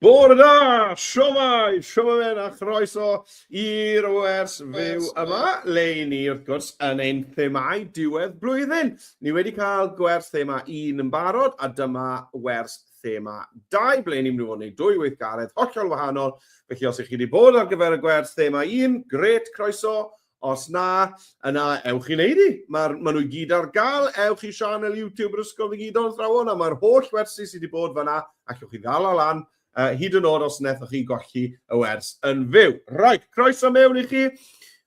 Bore da! Siomai! Siomai a chroeso i'r wers fyw yma, le ni wrth gwrs yn ein themau diwedd blwyddyn. Ni wedi cael gwers thema un yn barod a dyma wers thema dau, ble ni'n mynd i fod yn ei dwy weithgaredd hollol wahanol. Felly os ych chi wedi bod ar gyfer y gwers thema un, gret, croeso, Os na, yna ewch i wneud hi. Mae'r, maen nhw i gyd ar gael. Ewch i sianel YouTube yr Ysgol Ddigidol Athrawon a mae'r holl wersi sydd wedi bod fanna ac ewch i ddal o lan uh, hyd yn oed os nethoch chi golli y wers yn fyw. Right, croeso mewn i chi.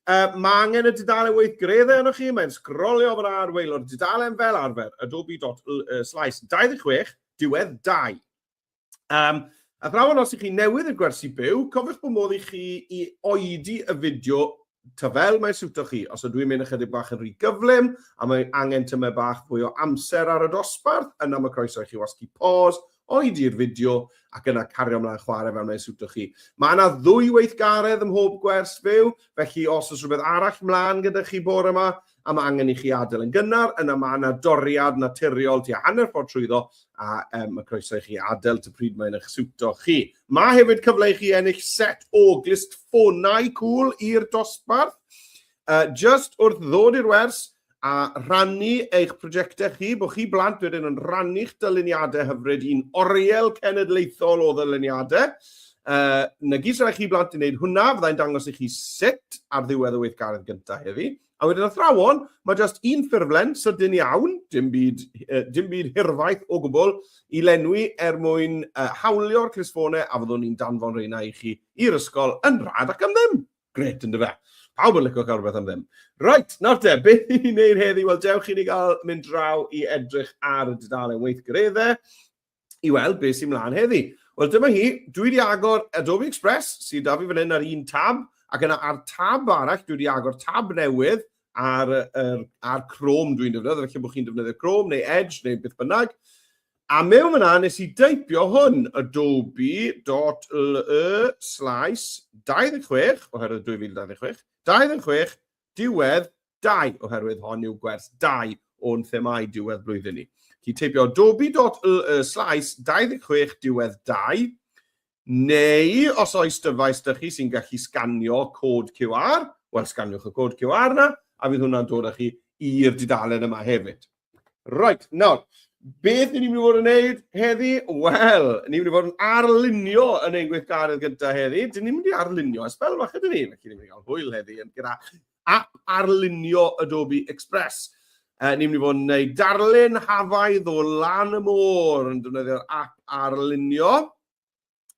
Uh, mae angen y dudalen weithgareddau yno chi, mae'n sgrolio fan ar weilo'r dudalen fel arfer, adobe.slice 26, diwedd 2. Um, a thrawon os ych chi newydd yn gwersi byw, cofiwch bod modd i chi i oedi y fideo ta fel mae'n siwto chi. Os ydw i'n mynd ychydig bach yn rhy gyflym a mae angen tymau bach fwy o amser ar y dosbarth, yna mae croeso i chi wasgu pause, oedi'r fideo ac yna cario ymlaen chwarae fel mae'n siwto chi. Mae yna ddwy weithgaredd ym mhob gwers fyw, felly os oes rhywbeth arall mlaen gyda chi bore yma, a mae angen i chi adael yn gynnar, yna mae yna doriad naturiol tua hanner ffordd trwyddo a um, mae croeso i chi adael ty pryd mae'n eich siwto chi. Mae hefyd cyfle i chi ennill set o glistffonau cwl i'r dosbarth. Uh, just wrth ddod i'r wers a rhannu eich prosiectau chi, bod chi blant wedyn yn rhannu'ch dyluniadau hyfryd i'n oriel cenedlaethol o ddyluniadau. Uh, na gyd sy'n rhaid chi blant i wneud hwnna, fyddai'n dangos i chi sut ar ddiwedd y weithgaredd gyntaf heddi. A wedyn athrawon, mae jyst un ffurflen sydyn iawn, dim byd, uh, dim byd hirfaith o gwbl, i lenwi er mwyn uh, hawlio'r crisfonau a fyddwn ni'n danfon reina i chi i'r ysgol yn rhad ac am ddim. Gret, ynddo fe. Pawb yn licio cael rhywbeth am ddim. Right, nawr te, beth i wneud heddi? Wel, dewch i ni gael mynd draw i edrych ar y dudalen weithgareddau. i weld beth sy'n mlaen heddi. Wel, dyma hi. Dwi wedi agor Adobe Express, sydd da fi fan hyn ar un tab, ac yna ar tab arall, dwi wedi agor tab newydd ar, ar, ar Chrome dwi'n defnyddio, felly bod chi'n defnyddio Chrome neu Edge neu beth bynnag. A mewn fyna, nes i deipio hwn, adobe.le slash 26, oherwydd 2026, 26, diwedd dau, oherwydd hon yw gwers dau o'n themau diwedd blwyddyn ni. Chi teipio dobi.ly slais 26 diwedd dau, neu os oes dyfais dych chi sy'n gallu sganio cod QR, wel sganiwch y cod QR na, a fydd hwnna'n dod â chi i'r dudalen yma hefyd. Right, nawr, beth ni'n mynd i fod yn neud heddi? Wel, ni'n mynd i fod yn arlunio yn ein gweithgaredd gyda heddi. Dyn ni'n mynd i arlunio ers fel fath ydyn ni. Felly, ni'n mynd i gael hwyl heddi yn gyda app arlunio Adobe Express. Uh, ni'n mynd i fod yn neud darlun hafaidd o lan y môr yn defnyddio'r app arlunio.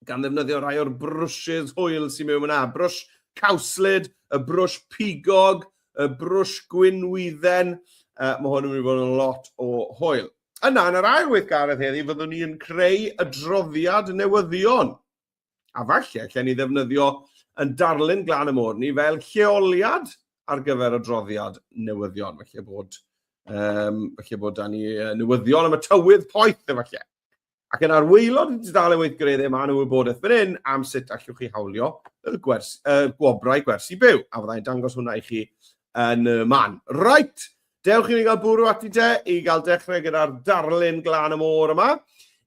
gan ddefnyddio rhai o'r brwsys hwyl sy'n mewn yna. Brwsh cawslyd, y brwsh pigog, y brwsh gwynwydden. Uh, mae hwn yn mynd i fod yn lot o hwyl. Yna, yn yr ail weithgaredd heddi, fyddwn ni'n creu y droddiad newyddion. A falle, lle ni ddefnyddio yn darlun glan y môr ni fel lleoliad ar gyfer y droddiad newyddion. Felly bod, um, felly bod da ni newyddion am y tywydd poeth efallai. Ac yn arweilod y dudalen weithgareddau mae nhw wybodaeth fan hyn am sut allwch chi hawlio y, gwers, y gwobrau gwersi byw, a fyddai'n dangos hwnna i chi yn y man. Right, dewch i ni gael bwrw ati te i gael dechrau gyda'r darlun glan y môr yma.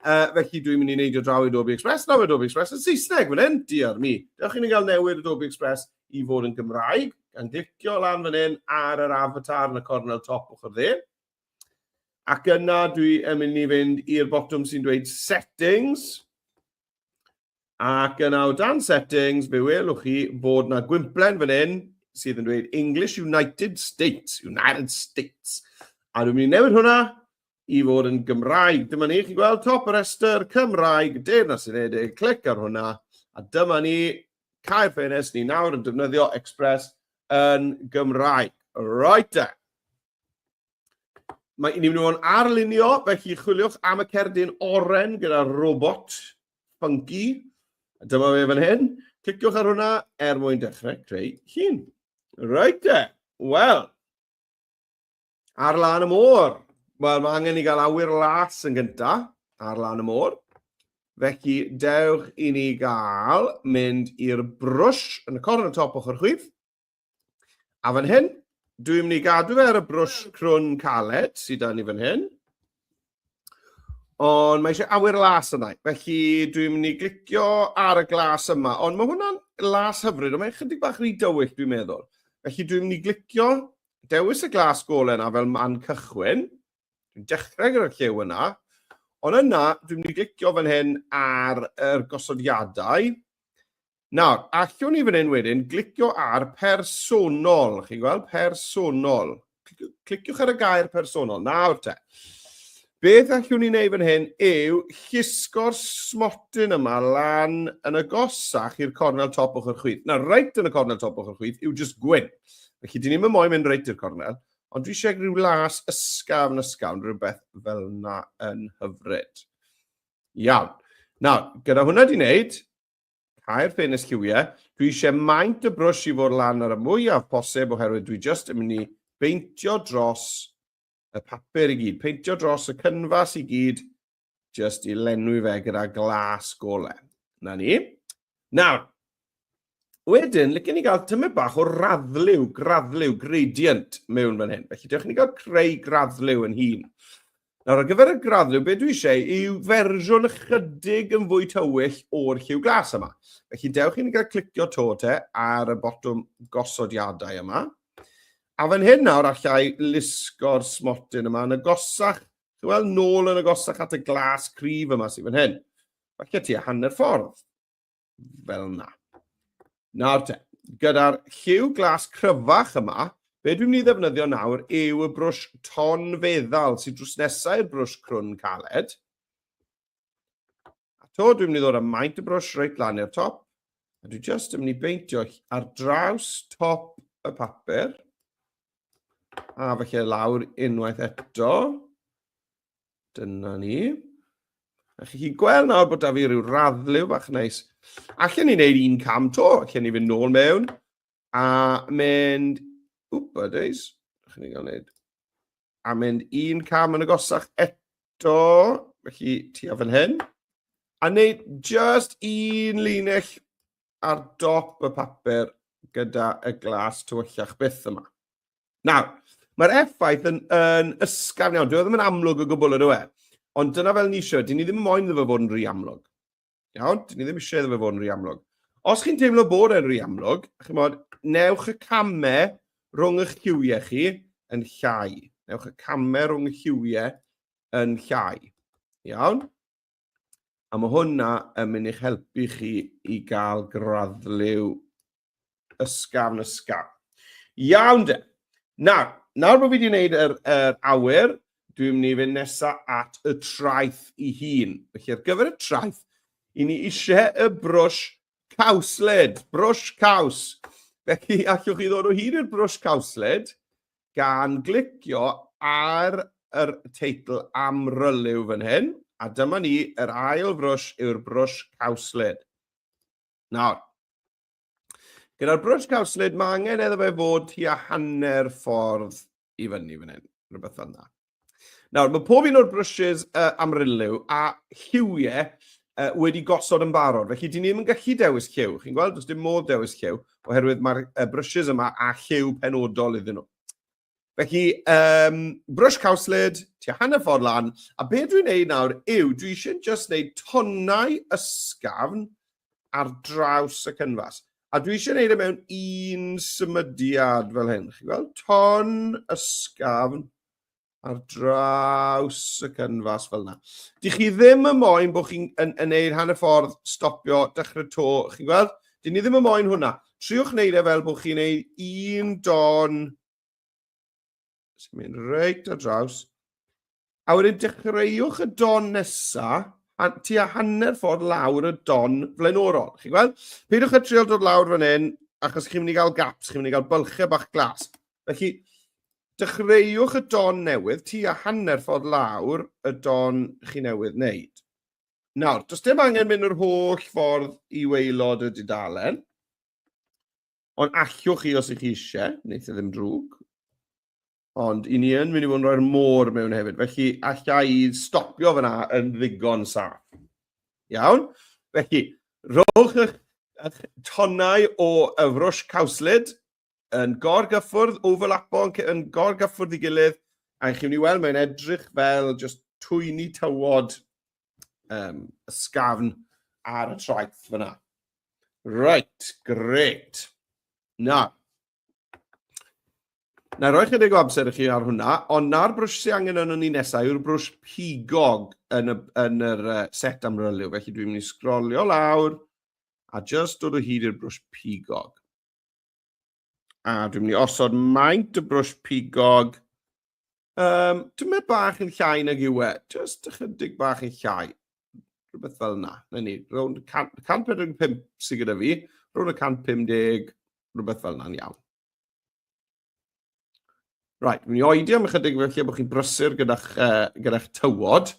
Uh, felly dwi'n mynd i wneud o draw i Adobe Express. Nawr mae Adobe Express yn Saesneg fan hyn, diar mi. Dewch i ni gael newid Adobe Express i fod yn Gymraeg, gan glicio lan fan hyn ar yr avatar yn y cornel top ochr dde. Ac yna dwi yn mynd i fynd i'r botwm sy'n dweud settings. Ac yna o dan settings, fe welwch chi bod na gwymplen fan hyn sydd yn dweud English United States, United States. A dwi'n mynd i newid hwnna i fod yn Gymraeg. Dyma ni, chi'n gweld top y rhestr, Cymraeg, Deyrnas Unedig, clic ar hwnna. A dyma ni, cael ffenest ni nawr yn defnyddio Express yn Gymraeg. Right then. Mae ni'n mynd o'n arlunio, felly chwiliwch am y cerdyn oren gyda'r robot funky. Dyma fe fan hyn. Cliciwch ar hwnna er mwyn dechrau creu hun. Rhaid te. Wel, ar lan y môr. Wel, mae angen i gael awyr las yn gynta ar lan y môr. Felly, dewch i ni gael mynd i'r brwsh yn y corn y top ochr chwith. A fan hyn, dwi'n mynd i gadw fe ar y brwsh crwn caled sydd da ni fan hyn. Ond mae eisiau awyr las yna. Felly dwi'n mynd i glicio ar y glas yma. Ond mae hwnna'n las hyfryd, ond mae'n chydig bach rhy dywyll dwi'n meddwl. Felly dwi'n mynd i glicio dewis y glas golau yna fel man cychwyn. Dwi'n dechrau gyda'r llew yna. Ond yna, dwi'n mynd i glicio fan hyn ar yr gosodiadau. Nawr, allwn ni fan hyn wedyn glicio ar personol, chi'n gweld, personol. Cliciwch ar y gair personol, nawr te. Beth allwn ni'n neud fan hyn yw llusgo'r smotyn yma lan yn y gosach i'r cornel top ochr chwith. Na, reit yn y cornel top ochr chwith yw just gwyn. Felly, dyn ni'n mynd moyn mynd reit i'r cornel, ond dwi eisiau rhyw las ysgaf yn ysgafn, rhywbeth fel yna yn hyfryd. Iawn. Nawr, gyda hwnna di wneud, Caer ffenest lliwiau. Dwi eisiau maint y brwsh i fod lan ar y mwyaf posib oherwydd dwi just yn mynd i beintio dros y papur i gyd, peintio dros y cynfas i gyd, just i lenwi fe gyda glas gole. Na ni. Nawr, wedyn, licen ni gael tymed bach o raddliw, graddliw, gradient mewn fan hyn. Felly, dewch ni gael creu graddliw yn hun. Nawr, ar gyfer y graddrwydd, be dwi eisiau yw fersiwn ychydig yn fwy tywyll o'r lliw glas yma. Felly, dewch i'n gael clicio to te ar y botwm gosodiadau yma. A fan hyn nawr, allai lusgo'r smotyn yma yn y gosach, chi'n weld, nôl yn y gosach at y glas cryf yma sy'n fan hyn. Felly, ti a hanner ffordd. fel yna. Nawr te, gyda'r lliw glas cryfach yma, be dwi'n mynd i ddefnyddio nawr yw y brwsh ton feddal sy'n drws nesau i'r brwsh crwn caled. A to dwi'n mynd i ddod â maint y brwsh reit lan i'r top, a dwi'n just yn mynd i beintio ar draws top y papur, a felly lawr unwaith eto, Dyna ni. A chi chi'n gweld nawr bod da fi rhyw raddlew bach neis. Allen ni wneud un cam to, allen ni fynd nôl mewn a mynd... Wp, a days. Allen ni gael wneud... A mynd un cam yn y gosach eto. Felly, ti a fan hyn. A wneud just un linell ar dop y papur gyda y glas tywyllach byth yma. Nawr, mae'r effaith yn, yn ysgafn iawn. Dwi e ddim yn amlwg o gwbl yn yw e. Ond dyna fel ni eisiau. Dyn ni ddim moyn iddo fe fod yn rhy amlwg. Iawn? Dyn ni ddim eisiau iddo fe fod yn rhy amlwg. Os chi'n teimlo bod e'n rhy amlwg, chi'n modd, newch y camau rhwng eich lliwiau chi yn llai. Newch y camau rhwng y lliwiau yn llai. Iawn? A mae hwnna yn mynd i'ch helpu chi i gael graddliw ysgafn ysgafn. Iawn de. Nawr, nawr bod fi wedi gwneud yr, yr awyr, dwi'n mynd i fynd nesaf at y traeth i hun. Felly ar gyfer y traeth, i ni eisiau y brwsh cawsled, brwsh caws. Felly allwch chi ddod o hyd i'r brwsh cawsled gan glicio ar yr teitl amryliw fan hyn, a dyma ni, yr ail frwsh yw'r brwsh cawslyd. Nawr, gyda'r brwsh cawslyd, mae angen eddo fe fod tua hanner ffordd i fyny fan hyn, rhywbeth fel yna. Nawr, mae pob un o'r brwsys uh, amryliw a lliwiau uh, wedi gosod yn barod, felly dyn ni ddim yn gallu dewis lliw. Chi'n gweld, does dim modd dewis lliw, oherwydd mae'r uh, brwsys yma a lliw penodol iddyn nhw. Felly, um, brwsh cawslid, tua hanner ffordd lan, a beth dwi'n neud nawr yw, dwi eisiau just neud tonnau ysgafn ar draws y cynfas. A dwi eisiau gwneud e mewn un symudiad fel hyn. Chi'n gweld? Ton ysgafn ar draws y cynfas fel yna. Dych chi ddim yn moyn bod chi'n yn, yn neud hanner ffordd, stopio, dechrau to. Chi'n gweld? Dyn ni ddim yn moyn hwnna. Triwch wneud e fel bod chi'n neud un don Sy'n mynd reit ar draws. A wedyn dechreuwch y don nesa, a tua hanner ffordd lawr y don flaenorol. Chi'n gweld? Peidiwch â trial dod lawr fan hyn, achos chi'n mynd i gael gaps, chi'n mynd i gael bylchau bach glas. Felly, dechreuwch y don newydd, tua hanner ffordd lawr y don chi newydd wneud. Nawr, does dim angen mynd yr holl ffordd i weilod y dudalen. Ond allwch chi os ych chi eisiau, wneud e ddim drwg. Ond i ni yn mynd i fod yn rhoi'r môr mewn hefyd. Felly, allai i stopio fyna yn ddigon saff. Iawn? Felly, rhowch eich, eich tonnau o yfrwys cawslid yn gorgyffwrdd, overlapo yn, yn gorgyffwrdd i gilydd, a chi'n mynd i weld mae'n edrych fel just twyni tywod um, ysgafn ar y traeth fyna. Right, great. Na. Na, roi chydig o amser i chi ar hwnna, ond na'r brwsh sy'n angen yn ni nesau yw'r brwsh pigog yn, y, yn yr uh, set amryliw. Felly dwi'n mynd i sgrolio lawr a just dod o hyd i'r brwsh pigog. A dwi'n mynd i osod maint y brwsh pigog. Um, dwi'n mynd bach yn llai nag yw e. Just ychydig bach yn llai. Rhywbeth fel yna. Na ni, rownd 145 sydd gyda fi. Rhwng y 150, rhywbeth fel yna'n iawn. Right, dwi'n mynd i oedi am ychydig felly bod chi'n brysur gyda'ch uh, gyda tywod.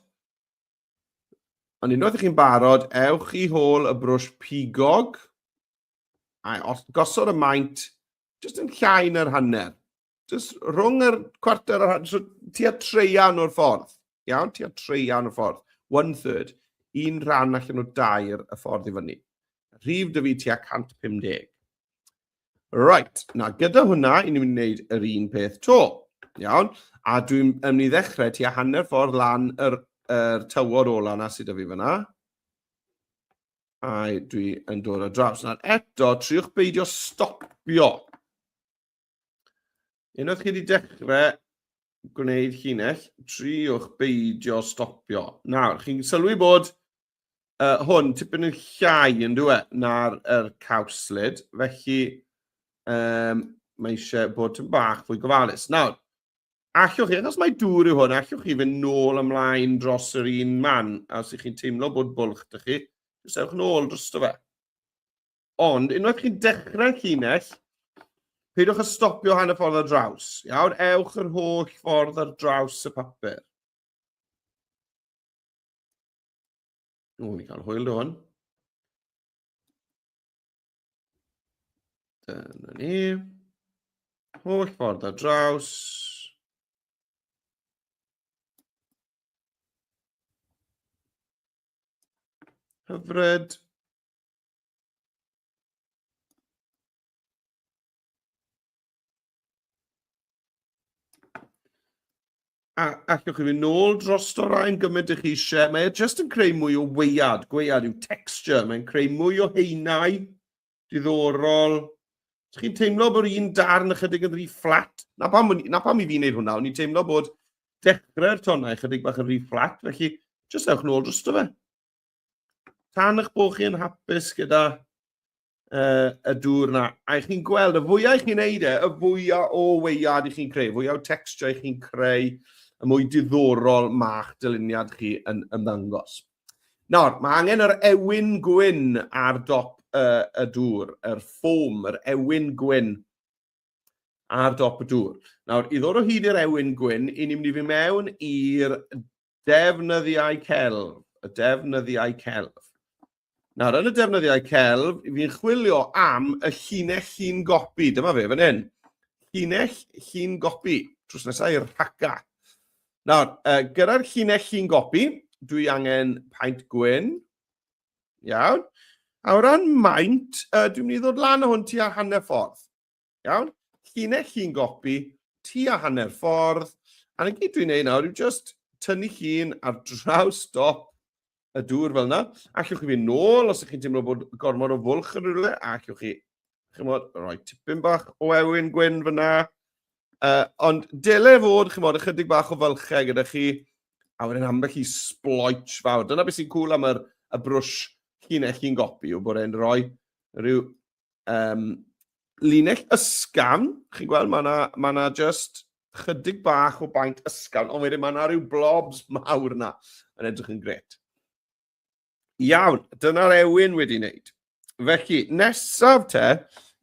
Ond unwaith ych chi'n barod, ewch i hôl y brwsh pigog a gosod y maint jyst yn llai na'r hanner. Jyst rhwng yr cwarter o'r hanner, so tua treian o'r ffordd. Iawn, tua treian o'r ffordd. One third. Un rhan allan o dair y ffordd i fyny. Rhif dy fi tua 150. Right, na, gyda hwnna, i ni'n mynd yr un peth to. Iawn? A dwi'n mynd i ddechrau ti a hanner ffordd lan yr, yr tywod ola na sydd â fi fyna. A dwi yn dod o draws. Nawr eto, triwch beidio stopio. Unwaith chi wedi dechrau gwneud llinell, triwch beidio stopio. Nawr, chi'n sylwi bod uh, hwn tipyn yn llai yn dwi e, na'r er cawslid, felly um, mae eisiau bod yn bach fwy gofalus. Nawr, allwch chi, achos mae dŵr yw hwn, allwch chi fynd nôl ymlaen dros yr un man, a os ych chi'n teimlo bod bwlch dych chi, jyst ewch nôl dros dy fe. Ond, unwaith chi'n dechrau llinell, peidiwch â stopio hanner ffordd ar draws. Iawn, ewch yr holl ffordd ar draws y papur. Ww, ni cael hwyl hwn. Dyna ni. Holl ffordd ar draws. Hyfryd. A allwch chi fynd nôl dros o rhain gymaint ych chi eisiau. Mae e jyst yn creu mwy o weiad. Gwead yw texture. Mae'n creu mwy o heinau. Diddorol. Ydych chi'n teimlo bod un darn ychydig yn rhy fflat? Na pam, na pam i fi wneud hwnna. O'n i'n teimlo bod dechrau'r tonnau ychydig bach yn rhy fflat. Felly, jyst ewch nôl dros o fe. Tan eich bod chi yn hapus gyda uh, y dŵr yna. A i chi'n gweld, y fwyau i chi'n neud e, y fwyau o weiad i chi'n creu, fwyau o texture i chi'n creu, y mwy diddorol mae'ch dyluniad chi yn ymddangos. Nawr, mae angen yr ewyn gwyn ar dop uh, y dŵr, yr ffom, yr ewyn gwyn ar dop y dŵr. Nawr, i ddod o hyd i'r ewyn gwyn, i ni'n mynd i fi mewn i'r Defnyddiau celf, y defnyddiau celf. Nawr, yn y defnyddiau celf, fi'n chwilio am y llinell llun gopi. Dyma fe, fan hyn. Llinell llun gopi. Trws nesau i'r rhaca. Nawr, uh, gyda'r llinell llun gopi, dwi angen paent gwyn. Iawn. A o ran maint, uh, dwi'n mynd i ddod lan o hwn ti a hanner ffordd. Iawn? Llinell llun gopi, tua hanner ffordd, a na gyd dwi'n neud nawr yw just tynnu llun ar draws dop y dŵr fel yna. Allwch chi fynd nôl os ydych chi'n teimlo bod gormod o fwlch yn rhywle, a allwch chi, chymod, rhoi tipyn bach o ewyn gwyn fyna. Uh, ond dele fod, chymod, ychydig bach o fylchau gyda chi, a wedyn ambell i sploich fawr. Dyna beth sy'n cool am yr, y brwsh llinell chi'n gopi, yw bod e'n rhoi rhyw Um, linell ysgan, chi'n gweld, mae yna ma na just chydig bach o baint ysgan, ond wedyn mae yna rhyw blobs mawr yna yn edrych yn gret. Iawn, dyna'r ewyn wedi wneud. Felly, nesaf te,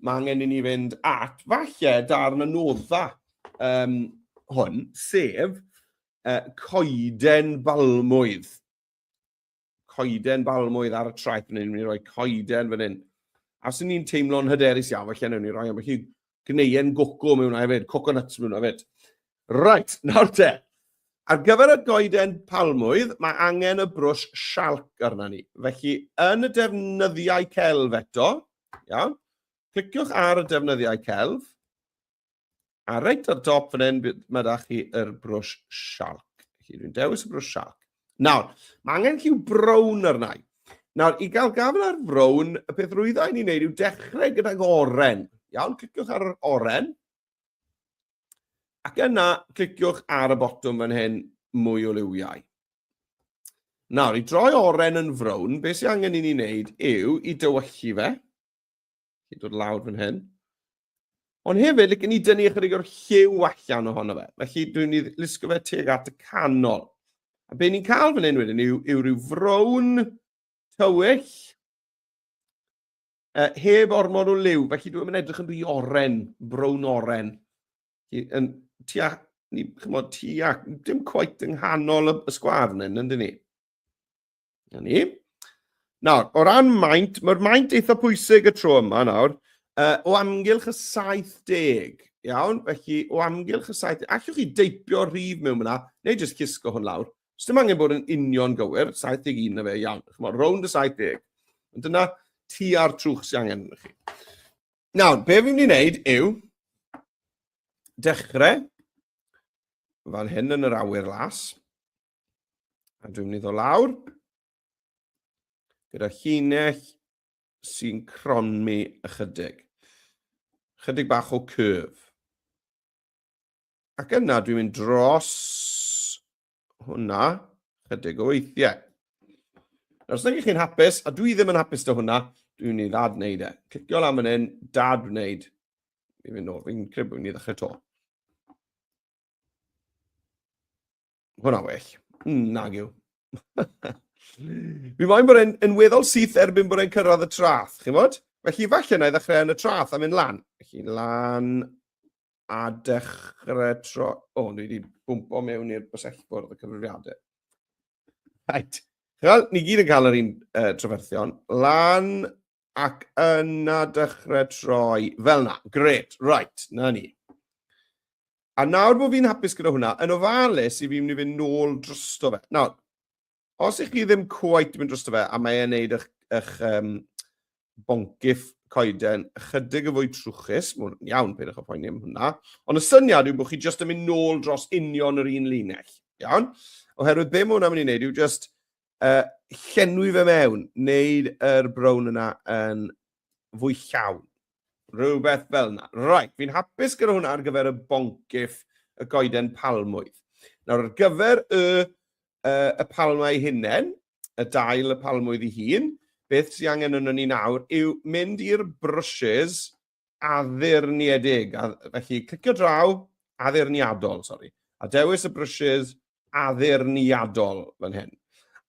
mae angen i ni fynd at falle darn y nodda um, hwn, sef uh, coeden balmwydd. coeden balmwydd ar y traeth fan hyn, ni'n rhoi coeden fan hyn. A os ni'n teimlo'n hyderus iawn, felly newn ni roi ambell i gneuen goco mewn hwnna hefyd, coconuts mewn hwnna hefyd. Right, nawr te. Ar gyfer y goeden palmwydd, mae angen y brwsh sialc arna ni. Felly, yn y defnyddiau celf eto, iawn, cliciwch ar y defnyddiau celf, A reit ar dop fan hyn, mae da chi yr brwsh shark. Felly dwi'n dewis y brwsh shark. Nawr, mae angen lliw brown arna i. Nawr, i gael gafel ar frown, y peth rwydda i ni'n neud yw dechrau gydag oren. Iawn, cliciwch ar yr oren. Ac yna, cliciwch ar y botwm fan hyn, mwy o liwiau. Nawr, i droi oren yn frown, beth sy'n angen i ni wneud yw i dywyllu fe. Chi'n dod lawr fan hyn. Ond hefyd, like, ni dynnu ychydig o'r lliw allan ohono fe. Felly, dwi'n ni lusgo fe teg at y canol. A be ni'n cael fan hyn wedyn yw, yw rhyw frown tywyll uh, heb ormod o liw. Felly, dwi'n mynd edrych yn rhy oren, brown oren. Yn tua, ni, chymod, tua, dim coet yng nghanol y, y sgwar yn hyn, yndyn ni? Na ni. Nawr, o ran maint, mae'r maint eitha pwysig y tro yma nawr, uh, o amgylch y 70, iawn? Felly, o amgylch y 70, allwch chi deipio rhif mewn yna, neu jyst cysgo hwn lawr. Os dim angen bod yn union gywir, 71 na fe, iawn. Chymod, rownd y 70. Ond dyna ti a'r trwch sy'n angen yna chi. Nawr, be fi'n mynd i wneud yw dechrau fan hyn yn yr awyr las, A dwi'n mynd i ddod lawr gyda llinell sy'n cronmi ychydig. Chydig bach o curve. Ac yna dwi'n mynd dros hwnna chydig o weithiau. Nawr, os ydych chi'n hapus, a dwi ddim yn hapus dy hwnna, dwi'n mynd i ddad wneud e. Clicio lan fan hyn, dad wneud. Fi'n mynd nôl, fi'n credu bod fi'n mynd i ddechrau to. Hwna well. Mm, nag yw. Mi mae'n bod e'n yn weddol syth erbyn bod e'n cyrraedd y trath, chi'n bod? Felly falle na i ddechrau yn y trath a mynd lan. Felly lan a dechrau tro... O, oh, ni wedi bwmpo mewn i'r bysellbwrdd y cyfrifiadau. Right. Wel, ni gyd yn cael yr un uh, trafferthion. Lan ac yna dechrau troi fel na. Gret, right, na ni. A nawr bod fi'n hapus gyda hwnna, yn ofalus i fi'n mynd i fynd nôl drosto fe. Nawr, os ych chi ddim cwaet yn mynd drosto fe, a mae'n neud eich, eich um, boncyff coeden ychydig yn fwy trwchus, mae'n iawn, peidiwch â phoeni am hwnna, ond y syniad yw bod chi jyst yn mynd nôl dros union yr un linell, iawn? Oherwydd be mae hwnna'n mynd i wneud yw jyst Yy, llenwi fe mewn, wneud yr brown yna yn fwy llawn. Rhywbeth fel yna. Right, fi'n hapus gyda hwnna ar gyfer y boncyff y goeden palmwydd. Nawr, ar gyfer y, uh, y palmau hunen, y dail y palmwydd i hun, beth sy'n angen yno ni nawr yw mynd i'r brushes addurniedig, a, felly clicio draw, addurniadol, sori, a dewis y brwsys addurniadol fan hyn.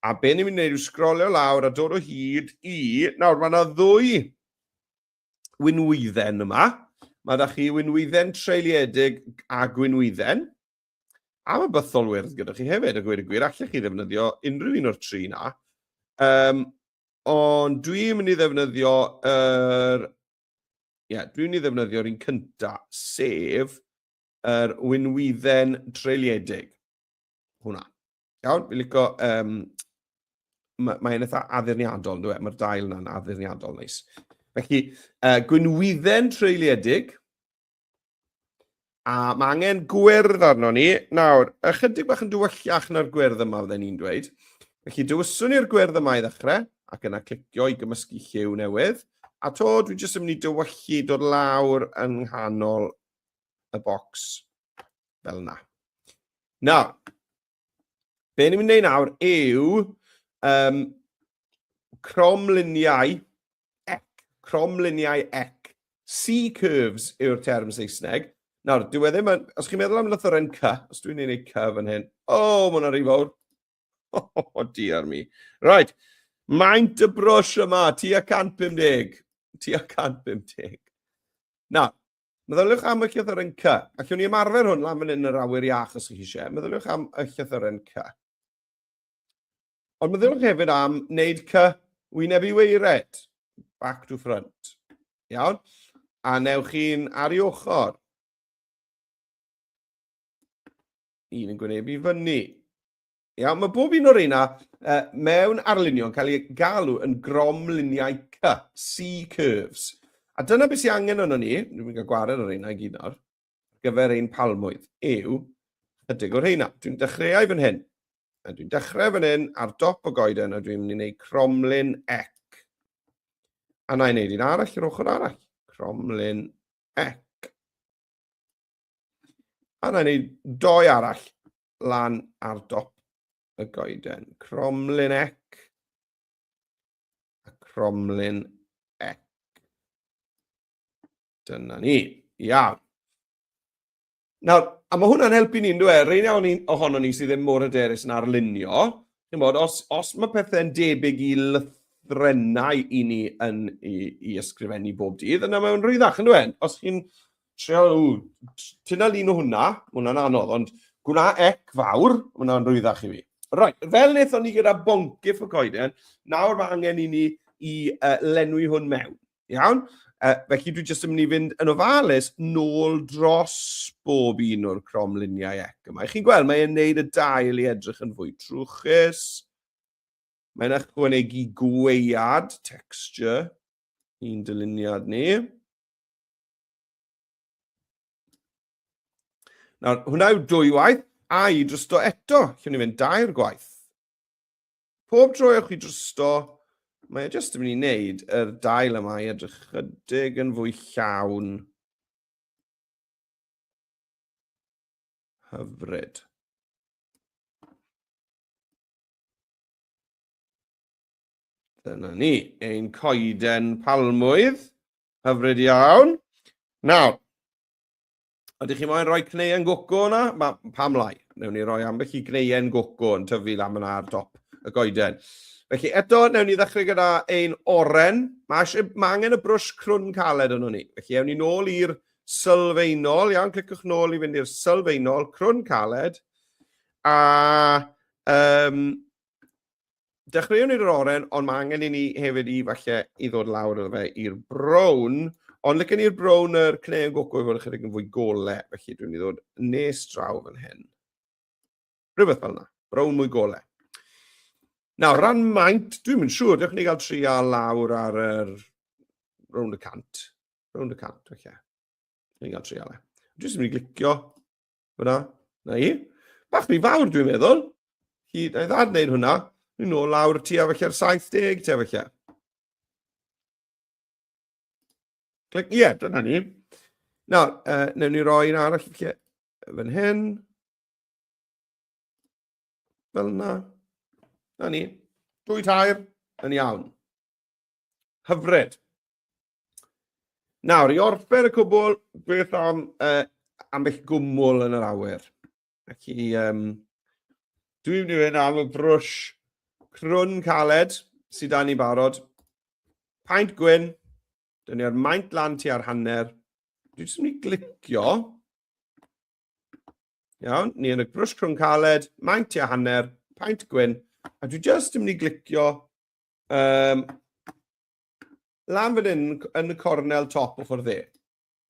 A be ni'n mynd i wneud yw sgrolio lawr a dod o hyd i, nawr mae yna ddwy winwydden yma, mae da chi winwydden treuliedig a gwynwydden, a mae bythol wyrdd gyda chi hefyd, y gwir y gwir, allech chi ddefnyddio unrhyw un o'r tri na. Um, ond dwi'n mynd i ddefnyddio yr er Ie, yeah, dwi'n i ddefnyddio'r un cynta, sef yr winwydden treuliedig. Hwna. Iawn, fi'n licio... Um, Mae'n ma eitha addurniadol, dwi e? Mae'r dail yna'n addurniadol neis. Felly, uh, gwynwydden treuliedig. A mae angen gwyrdd arno ni. Nawr, ychydig bach yn dywyllach na'r gwyrdd yma, fydden ni'n dweud. Felly, dywyswn ni'r gwyrdd yma i ddechrau, ac yna clicio i gymysgu lliw newydd. A to, dwi jyst yn mynd i dywyllu dod lawr yng nghanol y bocs fel yna. Nawr, Be ni'n mynd i wneud nawr yw um, cromluniau ec, cromluniau ec. C-curves yw'r term Saesneg. Nawr, dwi wedi ddim os chi'n meddwl am lythyren C, os dwi'n ei wneud C fan hyn, o, oh, mae'n rhy fawr. O, oh, oh, dear mi. Right, maint y brwsh yma, ti a 150, ti a 150. Nawr, Meddyliwch am y llythyren C. Allwn ni ymarfer hwn lan fan hyn yn yr awyr iach os ych chi eisiau. Meddyliwch am y llythyren C. Ond meddyliwch hefyd am wneud C wyneb i weired, back to front. Iawn? A newch chi'n ar ei ochr. Un yn gwynebu fyny. Iawn, mae bob un o'r reina uh, mewn arlunio'n cael ei galw yn gromluniau C, C-curves. A dyna beth sy'n angen yno ni, dwi'n mynd i gwared o'r reina i gyd nawr, gyfer ein palmwydd, yw chydig o'r reina. Dwi'n dechreuau fan hyn, a dwi'n dechrau fan hyn ar dop o goeden, a dwi'n mynd i wneud cromlun ec. A na i wneud un arall yr ochr arall, cromlun ec. A na i wneud doi arall lan ar dop y goeden. Cromlin ec a cromlin ec. Dyna ni. Iawn. Nawr, a mae hwnna'n helpu ni'n dweud, e? Rhain ni, ohono ni sydd ddim mor hyderus yn arlunio. Bod, os, os mae pethau'n debyg i lythrenau i ni yn i, i ysgrifennu bob dydd, yna mae'n rhwyddach yn dweud. E? Os chi'n Trio, tyna lun o hwnna, hwnna'n anodd, ond gwna ec fawr, hwnna'n rwyddach i fi. Right, fel wnaethon ni gyda bonc if y coeden, nawr mae angen i ni i uh, lenwi hwn mewn. Iawn? Uh, felly dwi jyst yn mynd i fynd yn ofalus nôl dros bob un o'r cromluniau ec yma. Chi'n gweld, mae'n neud y dail i edrych yn fwy trwchus. Mae'n ychwanegu gweiad, texture, i'n dyluniad ni. Nawr, hwnna yw dwy waith, a i drosto eto, lle ni fynd dair gwaith. Pob tro ewch i drosto, mae e jyst yn mynd i wneud yr dail yma i edrych chydig yn fwy llawn. Hyfryd. Dyna ni, ein coeden palmwydd. Hyfryd iawn. Nawr, ydych chi moyn rhoi cneuen goco yna? Ma, pam lai? Newn ni roi ambell i gneuen goco yn tyfu lan yna ar dop y goeden. Felly eto, newn ni ddechrau gyda ein oren. Mae, eisiau, mae angen y brwsh crwn caled yno ni. Felly ewn ni nôl i'r sylfaenol. Iawn, clicwch nôl i fynd i'r sylfaenol, crwn caled. A um, Dechreuwn ni'r oren, ond mae angen i ni hefyd i falle i ddod lawr iddo fe i'r brown. Ond lycyn ni'r brown yr cneu yn goco i fod ychydig yn fwy gole, felly dwi'n i ddod nes draw fan hyn. Rhywbeth fel yna, brown mwy gole. Nawr, ran maint, dwi'n mynd siŵr, dewch ni gael tri a lawr ar yr... round y cant. Round y cant, felly. Dwi'n gael tri a le. Dwi'n mynd i glicio. Fyna, na i. Bach rhy fawr dwi'n meddwl. Hi, na i ddad wneud hwnna. Ni'n ôl lawr ti a felly'r 70 ti a felly. Clic, ie, yeah, dyna ni. Nawr, uh, newn ni roi un arall felly fan hyn. Fel yna. Na ni. Dwy tair, yn iawn. Hyfryd. Nawr, i orffen y cwbl, beth am uh, ambell gwmwl yn yr awyr? Ac i, um, dwi'n mynd i fynd am y brwsh crwn caled sydd dan ni barod. Paint gwyn, dyn ni ar maint lan ti ar hanner. Dwi'n mynd i glicio. Iawn, ni yn y brwsh crwn caled, maint ti ar hanner, paint gwyn. A dwi'n just yn mynd i glicio um, Lan fan hyn, yn y cornel top o ffordd dde.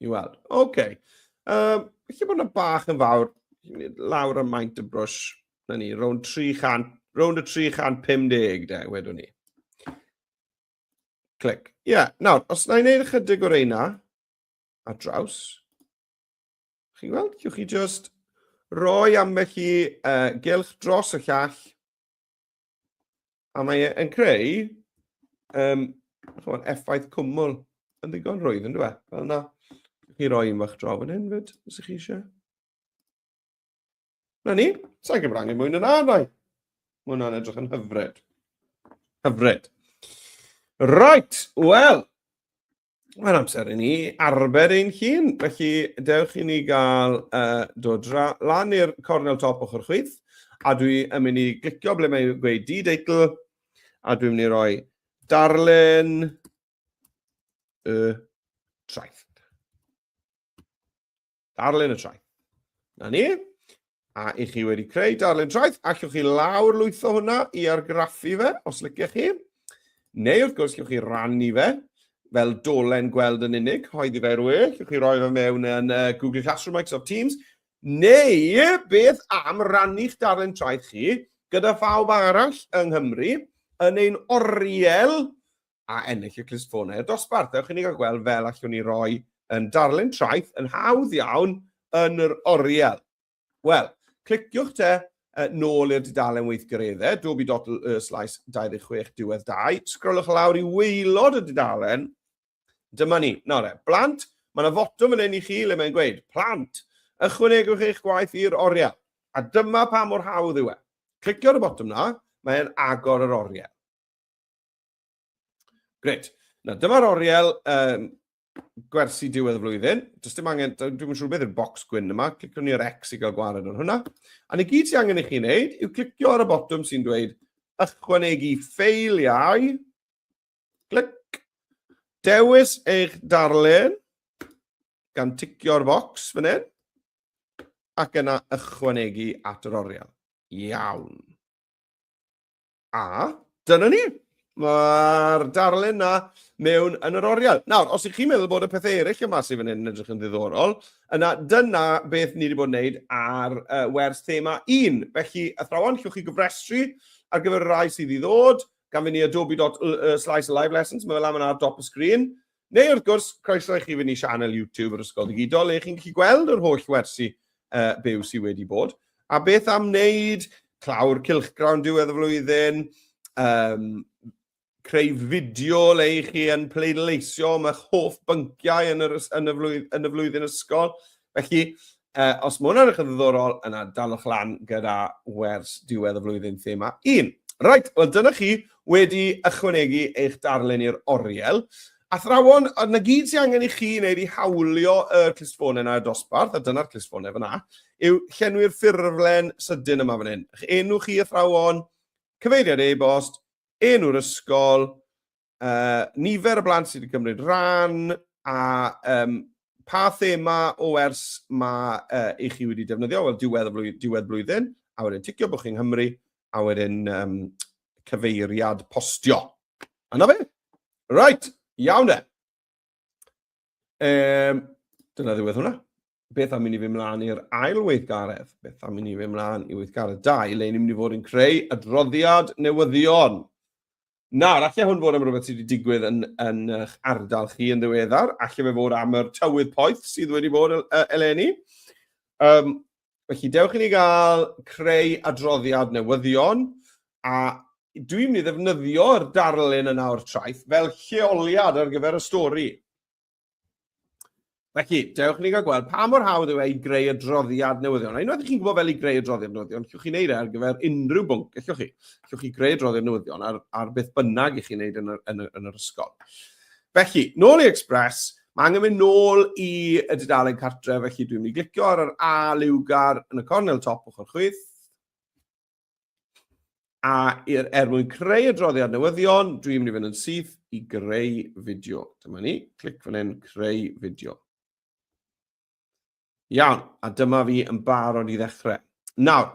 I weld. Oce. Okay. Um, Felly bod yna bach yn fawr, lawr y maint y brwys, na ni, rownd 300, rownd y 350 de, wedwn ni. Clic. Ie, yeah, nawr, os na i wneud ychydig o'r eina, a draws, chi'n gweld, chiwch chi just roi ambell i uh, gylch dros y llall, A mae e'n creu um, chwan, effaith cwmwl yn ddigon rwydd yn dweud. Fel yna, chi roi un fach draw fan hyn fyd, os ych chi eisiau. Na ni, sa'n gwybod angen mwy na rai. Mae hwnna'n edrych yn hyfryd. Hyfryd. Right, wel, Mae'n amser i ni arbed ein hun, felly dewch i ni gael uh, dod lan i'r cornel top ochr chwith, a dwi yn mynd i glicio ble mae'n gweud D-deitl, a dwi'n mynd i roi darllen y traeth. Darllen y traeth. Na ni. A i chi wedi creu darllen traeth, allwch chi lawr lwytho hwnna i argraffu fe, os lyciach chi. Neu wrth gwrs, allwch chi rannu fe fel dolen gweld yn unig, hoeddi fe rwy, allwch chi roi fe mewn yn uh, Google Classroom, Microsoft Teams, neu beth am rannu'ch darllen traeth chi gyda phawb arall yng Nghymru yn ein oriel a ennill y clustffonau i'r dosbarth. Ewch i ni gael gweld fel allwn ni roi yn darlun traeth yn hawdd iawn yn yr oriel. Wel, cliciwch te uh, nôl i'r dudalen weithgaredde, dobi dot y slais 26 diwedd 2, sgrolwch lawr i weilod y dudalen, dyma ni. Nawr e, blant, mae yna fotwm yn ein i chi le mae'n gweud, plant, ychwanegwch eich gwaith i'r oriel. A dyma pa mor hawdd yw e. Clicio ar y botwm na, mae'n agor yr oriel. Gret. Na, dyma'r oriel um, gwersi diwedd y flwyddyn. Does dim angen, dwi'n siŵr beth yw'r box gwyn yma, clicio ni ar X i gael gwared ar hwnna. A ni gyd sy'n angen i chi wneud yw clicio ar y botwm sy'n dweud ychwanegu ffeiliau. Clic. Dewis eich darllen gan ticio'r box fan hyn ac yna ychwanegu at yr oriel. Iawn. A dyna ni. Mae'r darlun na mewn yn yr oriel. Nawr, os ych chi'n meddwl bod y pethau eraill yma sydd fan hyn yn edrych yn ddiddorol, yna dyna beth ni wedi bod yn wneud ar uh, wers thema 1. Felly, athrawon, llwch chi gyfrestru ar gyfer y rai sydd i ddod, gan fynd i adobe.slice live lessons, mae fel am yna ar dop y sgrin. Neu wrth gwrs, croeso i chi fynd i sianel YouTube yr Ysgol Digidol le chi'n gallu gweld yr holl wersi uh, byw sydd wedi bod. A beth am wneud clawr cilchgrawn diwedd y flwyddyn, um, creu fideo le i chi yn pleidleisio am eich hoff bynciau yn, yr, yn, y flwyddyn, yn y flwyddyn ysgol. Felly, uh, os mae hwnna'n eich yn ddiddorol, yna dalwch lan gyda wers diwedd y flwyddyn thema 1. Right, wel dyna chi wedi ychwanegu eich darllen i'r oriel. Athrawon, a na gyd sy'n angen i chi wneud i hawlio y clustffonau yna y dosbarth, a dyna'r clustffonau fyna, yw llenwi'r ffurflen sydyn yma fan hyn. Eich enw chi athrawon, cyfeiriad e-bost, enw'r ysgol, uh, nifer y blant sydd wedi cymryd rhan a um, pa thema o ers mae uh, i chi wedi defnyddio, wel diwedd, flwyddyn, diwedd blwyddyn, a wedyn ticio bod chi'n Nghymru, a wedyn um, cyfeiriad postio. Yna fe? Right, iawn e. Um, dyna ddiwedd hwnna. Beth am i ni fy mlaen i'r ail weithgaredd? Beth am i ni fy mlaen i weithgaredd 2, le ni'n mynd i fod yn creu adroddiad newyddion? Nawr, allai hwn fod am rhywbeth sydd wedi digwydd yn, yn eich ardal chi yn ddiweddar, allai fe fod am yr tywydd poeth sydd wedi bod eleni. Um, felly, dewch i ni gael creu adroddiad newyddion, a dwi'n mynd i ddefnyddio'r darlun yna o'r traeth fel lleoliad ar gyfer y stori. Felly, dewch ni gael gweld pa mor hawdd yw e i greu adroddiad newyddion. A unwaith i chi'n gwybod fel i greu adroddiad newyddion, llwch chi'n neud e ar gyfer unrhyw bwnc, llwch chi. Llwch chi greu adroddiad newyddion ar, ar beth bynnag i chi'n neud yn yr, yn, yr, yn yr ysgol. Felly, nôl i Express, mae angen mynd nôl i y dudalen cartre, felly dwi'n mynd i glicio ar yr A liwgar yn y cornel top ochr chwith. A er, er mwyn creu adroddiad newyddion, dwi'n mynd i fynd yn syth i greu fideo. Dyma ni, clic fan hyn, creu fideo. Iawn, a dyma fi yn barod i ddechrau. Nawr,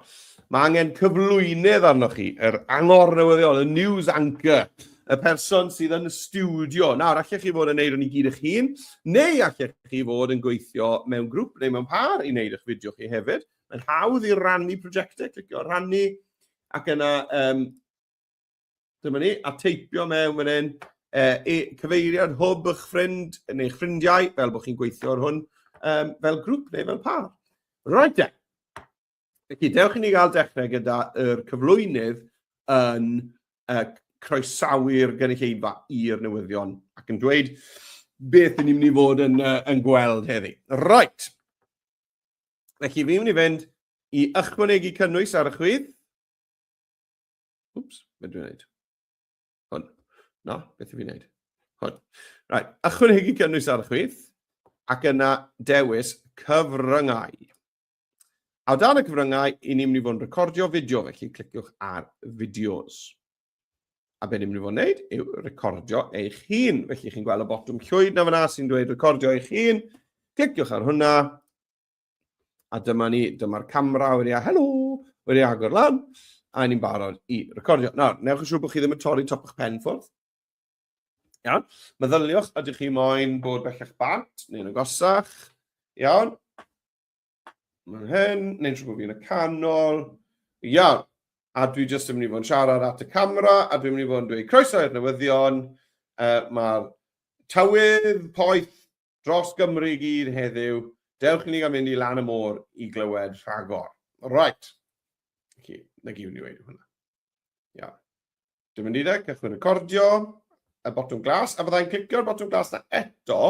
mae angen cyflwynydd arnoch chi, yr angor newyddion, y news anchor, y person sydd yn y studio. Nawr, allech chi fod yn neud o'n i gyd eich hun, neu allech chi fod yn gweithio mewn grŵp neu mewn par i wneud eich fideo chi hefyd. Mae'n hawdd i rannu prosiectau, clicio rannu, ac yna, um, dyma ni, a teipio mewn fan hyn, e, e, cyfeiriad hwb eich ffrind neu eich ffrindiau, fel bod chi'n gweithio ar hwn, um, fel grŵp neu fel par. Right then. Felly, dewch i ni gael dechrau gyda'r cyflwynydd yn uh, croesawu'r gynulleidfa i'r newyddion ac yn dweud beth ni'n mynd i fod yn, uh, yn gweld heddi. Right. Felly, fi mynd i fynd i ychwanegu cynnwys ar y chwith. Wps, beth dwi'n gwneud? Hwn. No, beth dwi'n gwneud? Hwn. Right, ychwanegu cynnwys ar y chwith, ac yna dewis cyfryngau. A dan y cyfryngau, i ni'n mynd i fod yn recordio fideo, felly cliciwch ar fideos. A be ni'n mynd i fod yn gwneud yw recordio eich hun. Felly chi'n gweld y botwm llwyd na fyna sy'n dweud recordio eich hun. Cliciwch ar hwnna. A dyma ni, dyma'r camera wedi a helo, wedi agor lan. A ni'n barod i recordio. Nawr, newch yn siŵr bod chi ddim yn torri top o'ch pen ffwrdd. Iawn. Meddyliwch, ydych chi moyn bod bellach bant neu'n agosach? Iawn. Mae'n hyn, neu'n siŵr bod fi'n y canol. Iawn. A dwi jyst yn mynd i fod yn siarad at y camera, a dwi'n mynd i fod yn dweud croeso i'r newyddion. Uh, Mae'r tywydd poeth dros Gymru i gyd heddiw. Dewch i ni gael mynd i lan y môr i glywed rhagor. Right. Okay. Na gyd ni wedi hwnna. Ia. Dwi'n mynd i dde, cychwyn recordio, y botwm glas, a fyddai'n clicio'r botwm glas na eto,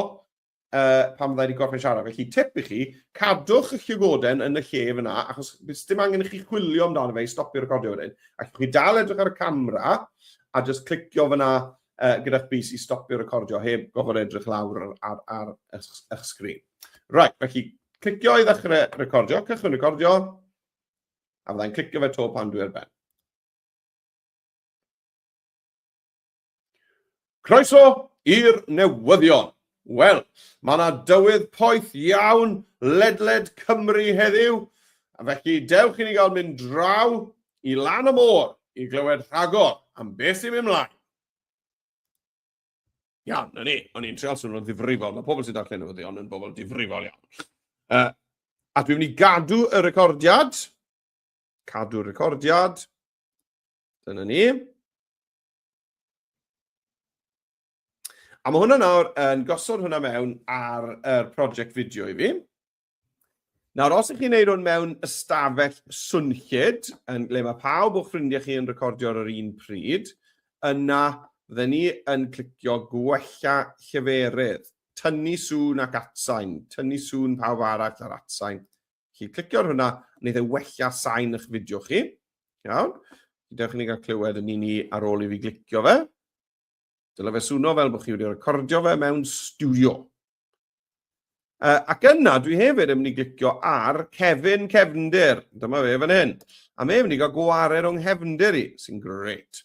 uh, pan fydda i wedi gorffen siarad. Felly, tip i chi, cadwch y llygoden yn y lle fyna, achos bys dim angen i chi chwilio amdano fe i stopio recordio wedyn. Ac chi dal edrych ar y camera, a just clicio fyna uh, gyda'ch bus i stopio recordio heb gofod edrych lawr ar, ar, ar eich sgrin. Right, felly, clicio i ddechrau recordio, cychwyn recordio, a fyddai'n clicio fe to pan dwi ar ben. Croeso i'r newyddion! Wel, mae yna dywydd poeth iawn ledled Cymru heddiw, a felly dewch i ni gael mynd draw i lan y môr i glywed rhagor am beth sy'n mynd mlaen. Iawn, na ni, o'n i'n treol swnio'n ddifrifol, mae pobl sy'n darllen newyddion yn bobl difrifol iawn. Uh, a dwi'n mynd i gadw y recordiad, cadw'r recordiad, dyna ni. A mae hwnna nawr yn gosod hwnna mewn ar y er prosiect fideo i fi. Nawr, os ych chi'n neud hwn mewn ystafell swnllyd, yn ble mae pawb o'ch ffrindiau chi yn recordio ar yr un pryd, yna fydden ni yn clicio gwella lleferydd, tynnu sŵn ac atsain, tynnu sŵn pawb arall ar atsain, Chi clicio ar hwnna, wneud e wella sain eich fideo chi. Iawn? Dewch i ni gael clywed yn un i ar ôl i fi glicio fe. Dyle fe swno fel bod chi wedi recordio fe mewn studio. Uh, ac yna, dwi hefyd yn mynd i glicio ar Kevin Cefndir. Dyma fe fan hyn. A mae'n mynd i gael gwared o'n nghefndir i, sy'n great.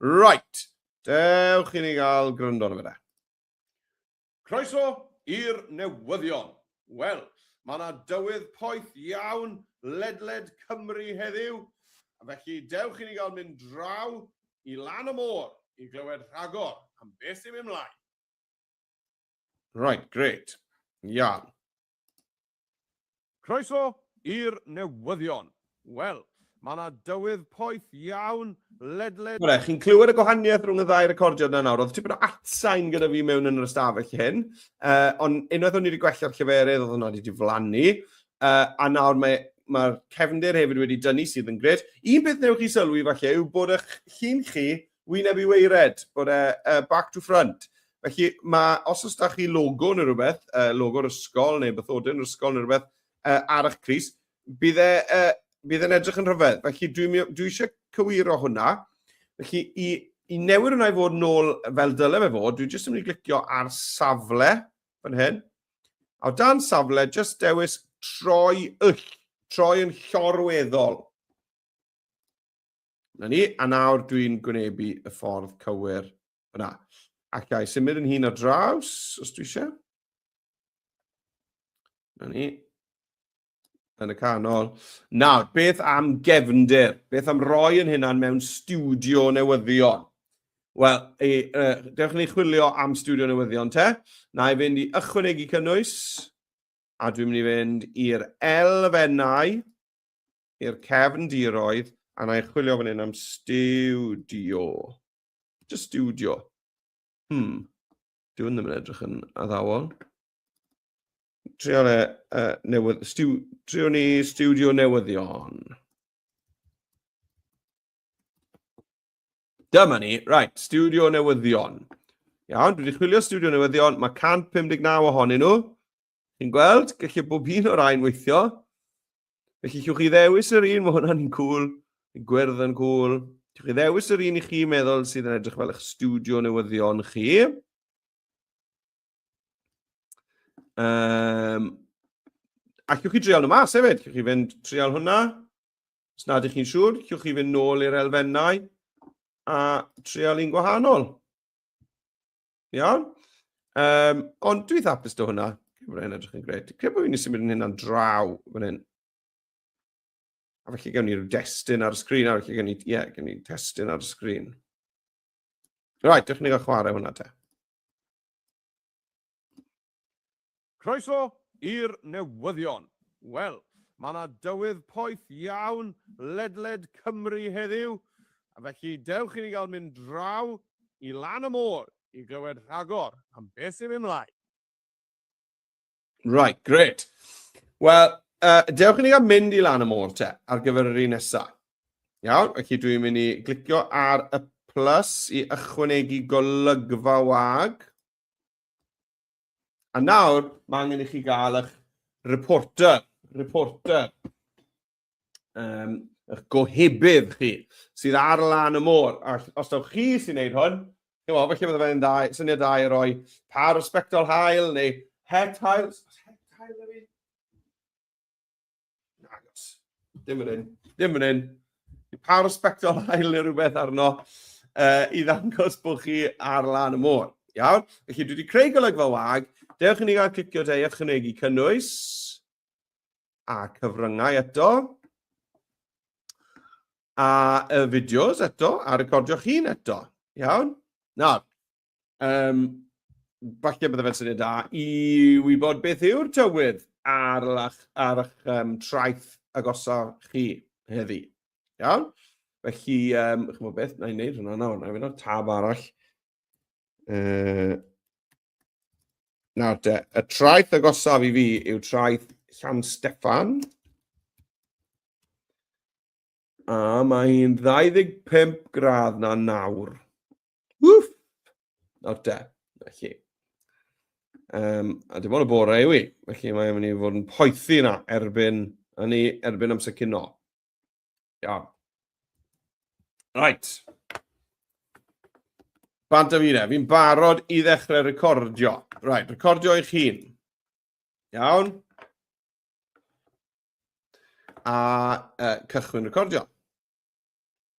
Right. Dewch i ni gael gryndo arno fe da. Croeso i'r newyddion! Wel, mae yna dywydd poeth iawn ledled Cymru heddiw, felly dewch i ni gael mynd draw i lan y môr i glywed rhagor am beth sy'n mynd mlaen. Right, grêt. Iawn. Croeso i'r newyddion. Wel, mae yna dywydd poeth iawn ledled... Bore, chi'n clywed y gwahaniaeth rhwng y ddau recordiad na nawr? Oedd tipyn o atsain gyda fi mewn yn yr ystafell hyn, uh, ond unwaith o'n i wedi gwella'r lleferydd oedd hwnna wedi diflannu, uh, a nawr mae mae'r cefndir hefyd wedi dynnu sydd yn gred. Un peth newch chi sylwi falle yw bod eich llun chi wyneb i weired, bod e uh, back to front. Felly, mae, os oes da chi logo neu rhywbeth, uh, logo'r ysgol neu bythodyn yr ysgol neu rhywbeth uh, ar eich cris, bydd e, uh, bydd e'n edrych yn rhyfedd. Felly, dwi, dwi eisiau cywiro hwnna. Felly, i, i newid hwnna i fod nôl fel dyle fe fod, dwi jyst yn mynd i glicio ar safle fan hyn. A o dan safle, jyst dewis troi yll, troi yn llorweddol. Na ni, a nawr dwi'n gwynebu y ffordd cywir fyna. Ac i symud yn hun ar draws, os dwi eisiau. Na ni. Yn y canol. Nawr, beth am gefndir? Beth am roi yn hynna'n mewn studio newyddion? Wel, e, e, dewch ni chwilio am studio newyddion te. Na i fynd i ychwanegu cynnwys, a dwi'n mynd i fynd i'r elfennau. i'r cefndiroedd a na i chwilio fan hyn am stiwdio. Just stiwdio. Hmm. Dyw hwn ddim yn edrych yn addawol. Trio le, uh, newydd, stiw, trio ni stiwdio newyddion. Dyma ni, right, stiwdio newyddion. Iawn, dwi wedi chwilio stiwdio newyddion, mae 159 ohonyn nhw. Chi'n gweld? Gallai bob un o'r rhain weithio. Felly, chiwch chi ddewis yr un, mae hwnna'n un cwl, yn gwyrdd yn cwl. Chiwch chi ddewis yr un i chi meddwl sydd yn edrych fel eich studio newyddion chi. Um, a chiwch chi dreol nhw mas hefyd. Chiwch chi fynd treol hwnna. Os nad ych chi'n siŵr, chiwch chi fynd nôl i'r elfennau a treol un gwahanol. Iawn? Um, ond dwi'n hapus do hwnna. Mae hynny'n edrych yn gred. Cred bod fi'n symud yn hynna'n draw fan hyn. A felly gawn ni'r destun ar y sgrin, a felly gawn ni, ie, yeah, gawn ni testun ar y sgrin. Right, dych chi'n gael chwarae hwnna te. Croeso i'r newyddion! Wel, mae 'na dywydd poeth iawn ledled Cymru heddiw, a felly dewch i ni gael mynd draw i lan y môr i glywed rhagor am beth sy'n mynd mlaen. Right, great. Wel, uh, dewch i ni gael mynd i lan y môr te, ar gyfer yr un nesaf. Iawn, felly dwi'n mynd i glicio ar y plus i ychwanegu golygfa wag. A nawr, mae angen i chi gael eich reporter, reporter, um, eich gohebydd chi, sydd ar lan y môr. A os dawch chi sy'n neud hwn, chi'n meddwl, felly fydde fe'n dau, syniad dau i roi par o spectol hael neu het hael. Het hael yw Nagos. Dim yn un. Dim yn un. Pa respectol ail neu rhywbeth arno uh, i ddangos bod chi ar lan y môr. Iawn? Felly dwi wedi creu golygfa wag. Dewch i ni gael clicio te i ychwanegu cynnwys a cyfryngau eto a y fideos eto a recordio'ch hun eto. Iawn? Nawr, Um, falle bydde fe'n syniad da i wybod beth yw'r tywydd ar, lach, ar eich um, traeth agosaf chi heddi. Iawn? Felly, um, chymod beth, na i wneud hwnna nawr, na i wneud tab arall. Uh, nawr te, y traeth agosaf i fi yw traeth Llan Steffan. A mae hi'n 25 gradd na nawr. Wff! Nawr de, felly. Um, a dim ond y bore yw i, felly mae'n mynd i fod yn poethi yna erbyn, yn ei erbyn amser cyn o. Iawn. Right. Bant am un e, fi'n barod i ddechrau recordio. Right, recordio eich hun. Iawn. A uh, cychwyn recordio.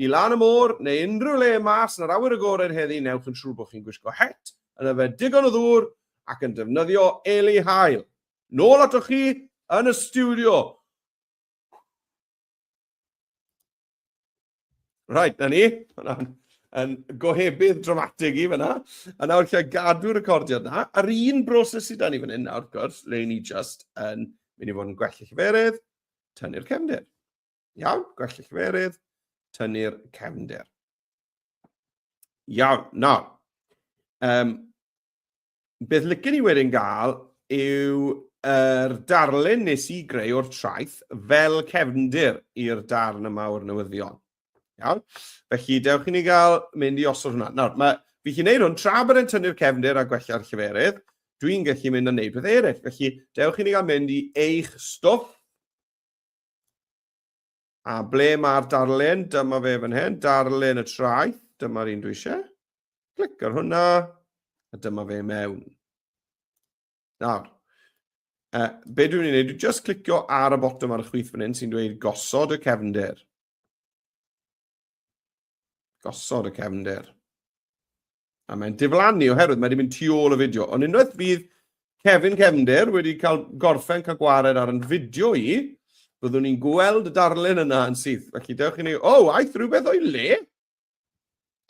I lan y môr, neu unrhyw le mas yn yr awyr agored heddi newch yn siŵr bod chi'n gwisgo het, yn yfed digon o ddŵr ac yn defnyddio eli haul. Nôl atoch chi yn y stiwdio! Right, na ni. Hwna'n yn gohebydd dramatig i fyna. A nawr lle gadw recordiad na. A'r un broses sydd da ni fan hyn nawr, gwrs, le ni just yn mynd i fod yn gwell y lleferydd, tynnu'r cefndir. Iawn, gwell y cyferydd, tynnu'r cefndir. Iawn, nawr, um, beth lycyn ni wedyn gael yw yr darlun nes i greu o'r traeth fel cefndir i'r darn yma o'r newyddion. Iawn? Felly, dewch i ni gael mynd i osod hwnna. Nawr, mae, fi chi'n neud hwn tra bod e'n tynnu'r cefndir a gwella'r lleferydd, dwi'n gallu mynd a neud beth eraill. Felly, dewch i ni gael mynd i eich stwff. A ble mae'r darlun? Dyma fe fan hyn, darlun y traeth. Dyma'r un dwi eisiau. Clic ar hwnna, a dyma fe mewn. Nawr, uh, be dwi'n ei wneud, dwi'n just clicio ar y botwm ar y chwith fan hyn sy'n dweud gosod y cefndir. Gosod y cefnder. A mae'n diflannu oherwydd mae wedi mynd tu ôl y fideo. Ond unwaith fydd Kevin Cefnder wedi cael gorffen cael gwared ar yn fideo i, byddwn ni'n gweld y darlun yna yn syth. Felly dewch i ni, o, oh, aeth rhywbeth o'i le?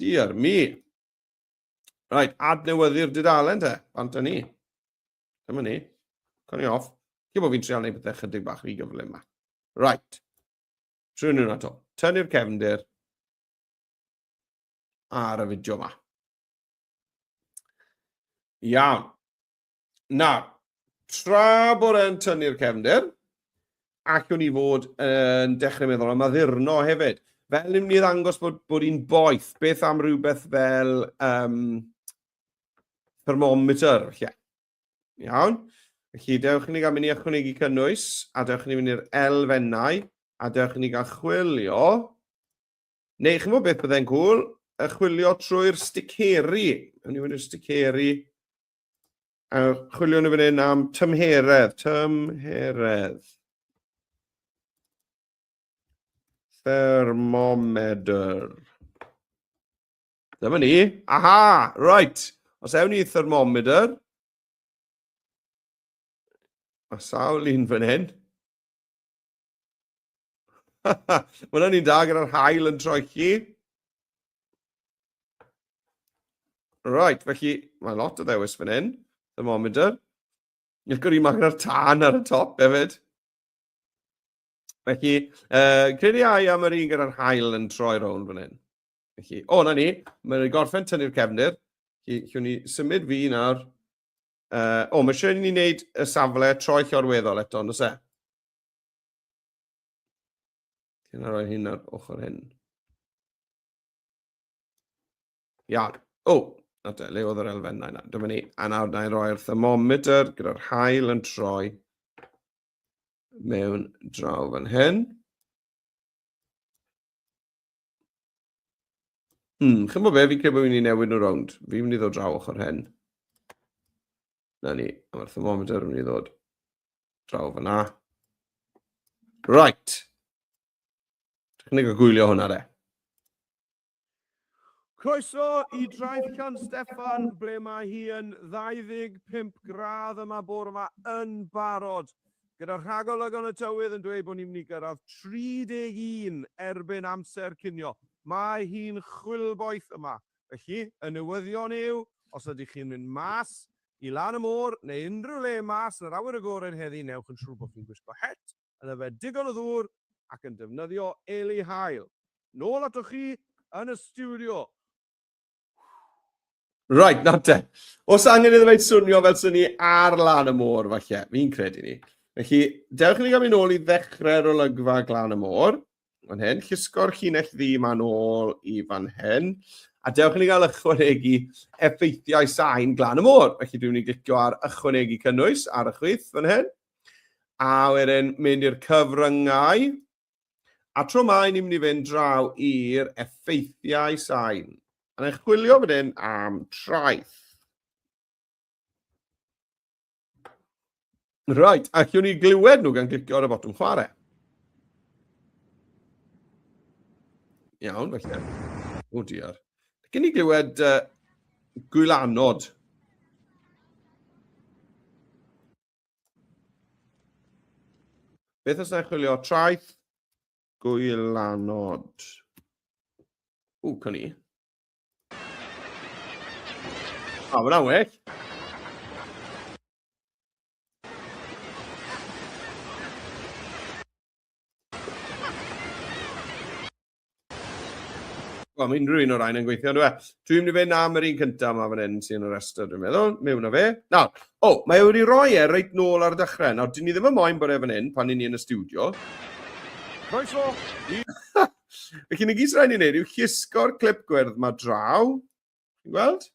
Diar mi. Rhaid, adnewyddu'r dudalen te, bant ni. Dyma ni. Cwn i off. Cyn bod fi'n trial neud bethau chydig bach rhy gyflym yma. Right. Trwy nhw'n ato. Tynnu'r cefndir ar y fideo yma. Iawn. Nawr, tra bod e'n tynnu'r cefndir, allwn ni fod yn dechrau meddwl am addurno hefyd. Fel ni'n mynd i ddangos bod, bod hi'n boeth, beth am rhywbeth fel um, thermometer, lle? Iawn. Felly, dewch i ni gael mynd i ychwanegu cynnwys, a dewch i ni mynd i'r elfennau, a dewch i ni gael chwilio. Neu, chi'n gwybod beth byddai'n gwl? Y chwilio trwy'r sticeri. Yn i mynd i'r sticeri. A chwilio nhw fan hyn am tymheredd. Tymheredd. Thermometer. Dyma ni. Aha! Right. Os ewn ni thermometer. A sawl un fan hyn. Mae hwnna'n un da gyda'r hael yn troi chi. Right, felly mae lot o ddewis fan hyn. Thermometer. Ych gwrdd i maen ar tân ar y top hefyd. Felly, uh, credu ai am yr un gyda'r hael yn troi rown fan hyn. Felly, o, na ni, mae'n ei gorffen tynnu'r cefnir. Felly, llwn ni symud fi nawr. Uh, o, mae eisiau ni wneud y safle troi llorweddol eto, nos e? Ti'n rhoi hyn ar ochr hyn. Iawn. O, na te, le oedd yr elfennau na. Dyma ni. A nawr, na i roi'r thermometr gyda'r hael yn troi mewn draw fan hyn. Hmm, chi'n bod be, fi'n credu bod fi'n mynd i newid nhw rownd. Fi'n mynd i ddod draw ochr hen. Na ni, a mae'r thermometer yn mynd i ddod draw fyna. Right. Technig o gwylio hwnna de. Croeso i Draeth Can Steffan, ble mae hi yn 25 gradd yma bore yma yn barod Gyda rhagolygon y tywydd yn dweud bod ni'n mynd i gyrraedd 31 erbyn amser cinio, mae hi'n chwilboeth yma. Felly, y newyddion yw, os ydych chi'n mynd mas i lan y môr neu unrhyw le mas yn yr awyr agored heddi, newch yn siŵr bod chi'n gwisgo het, yn yfed digon o ddŵr ac yn defnyddio eli haul. Nôl atoch chi yn y stiwdio! Right, nawr te. Os angen iddo fe'n swnio fel sy'n ni ar lan y môr, falle, fi'n credu ni. Felly, dewch i ni gael mynd ôl i ddechrau'r olygfa glan y môr. Fan hyn, llusgo'r llinell ddi ma'n ôl i fan hyn. A dewch i ni gael ychwanegu effeithiau sain glan y môr. Felly, dwi'n mynd i glicio ar ychwanegu cynnwys ar y chwith fan hyn. A wedyn, mynd i'r cyfryngau. A tro mae ni'n mynd i fynd draw i'r effeithiau sain. A ni'n chwilio fan hyn am traeth. Right, a allwn ni glywed nhw gan glicio ar y botwm chwarae. Iawn, felly. O diar. Gyn ni glywed uh, gwylanod. Beth os na chwilio traeth gwylanod? Ww, cawn i. O, mae'n aweg. Wel, mae unrhyw un o'r rhain yn gweithio, dwi e? Dwi'n mynd i fynd am yr un cyntaf yma fan hyn sy'n y rhestr, dwi'n meddwl. Mewn o fe. Na, o, mae e wedi rhoi e reit nôl ar y dechrau. Nawr, dyn ni ddim yn moyn bod e fan hyn pan ni'n ni yn y studio. Croeso! Felly, ni gyd sy'n rhaid ni'n neud yw chisgo'r clip gwyrdd mae draw. Ti'n gweld?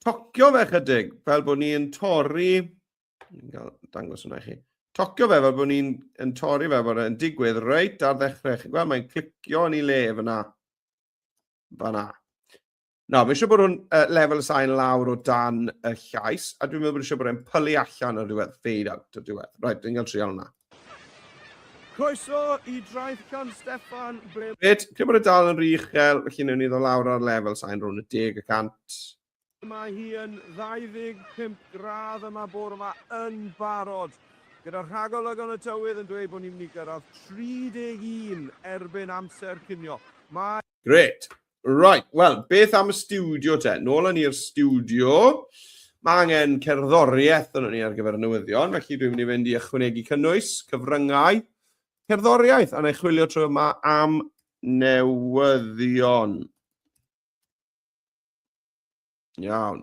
tocio fe chydig, fel bod ni'n torri, ni'n cael dangos hwnna i chi, tocio fe fel bod ni'n yn torri fe bod e'n digwydd reit ar ddechrau. Chi'n gweld, mae'n clicio yn ei le fyna. Fyna. Na, mae eisiau bod o'n uh, lefel y sain lawr o dan y llais, a dwi'n meddwl bod eisiau bod e'n pylu allan o'r diwedd, fade out o'r diwedd. Right, dwi'n cael trial hwnna. Croeso i Draeth Llan Steffan, ble... Reit, lle bod e dal yn rhy uchel, felly newn ni ddo lawr ar lefel sain rhwng y deg y cant. Mae hi yn 25 gradd yma bore yma yn barod, gyda rhagolygon y tywydd yn dweud bod ni'n mynd i gyrraedd 31 erbyn amser cinio. Mae... Grêt! Right, wel, beth am y studio te? Nôl yn i'r studio. Mae angen cerddoriaeth yn ni ar gyfer y newyddion, felly dwi'n mynd i fynd i ychwanegu cynnwys, cyfryngau, cerddoriaeth, a na i chwilio trwy yma am newyddion. Iawn.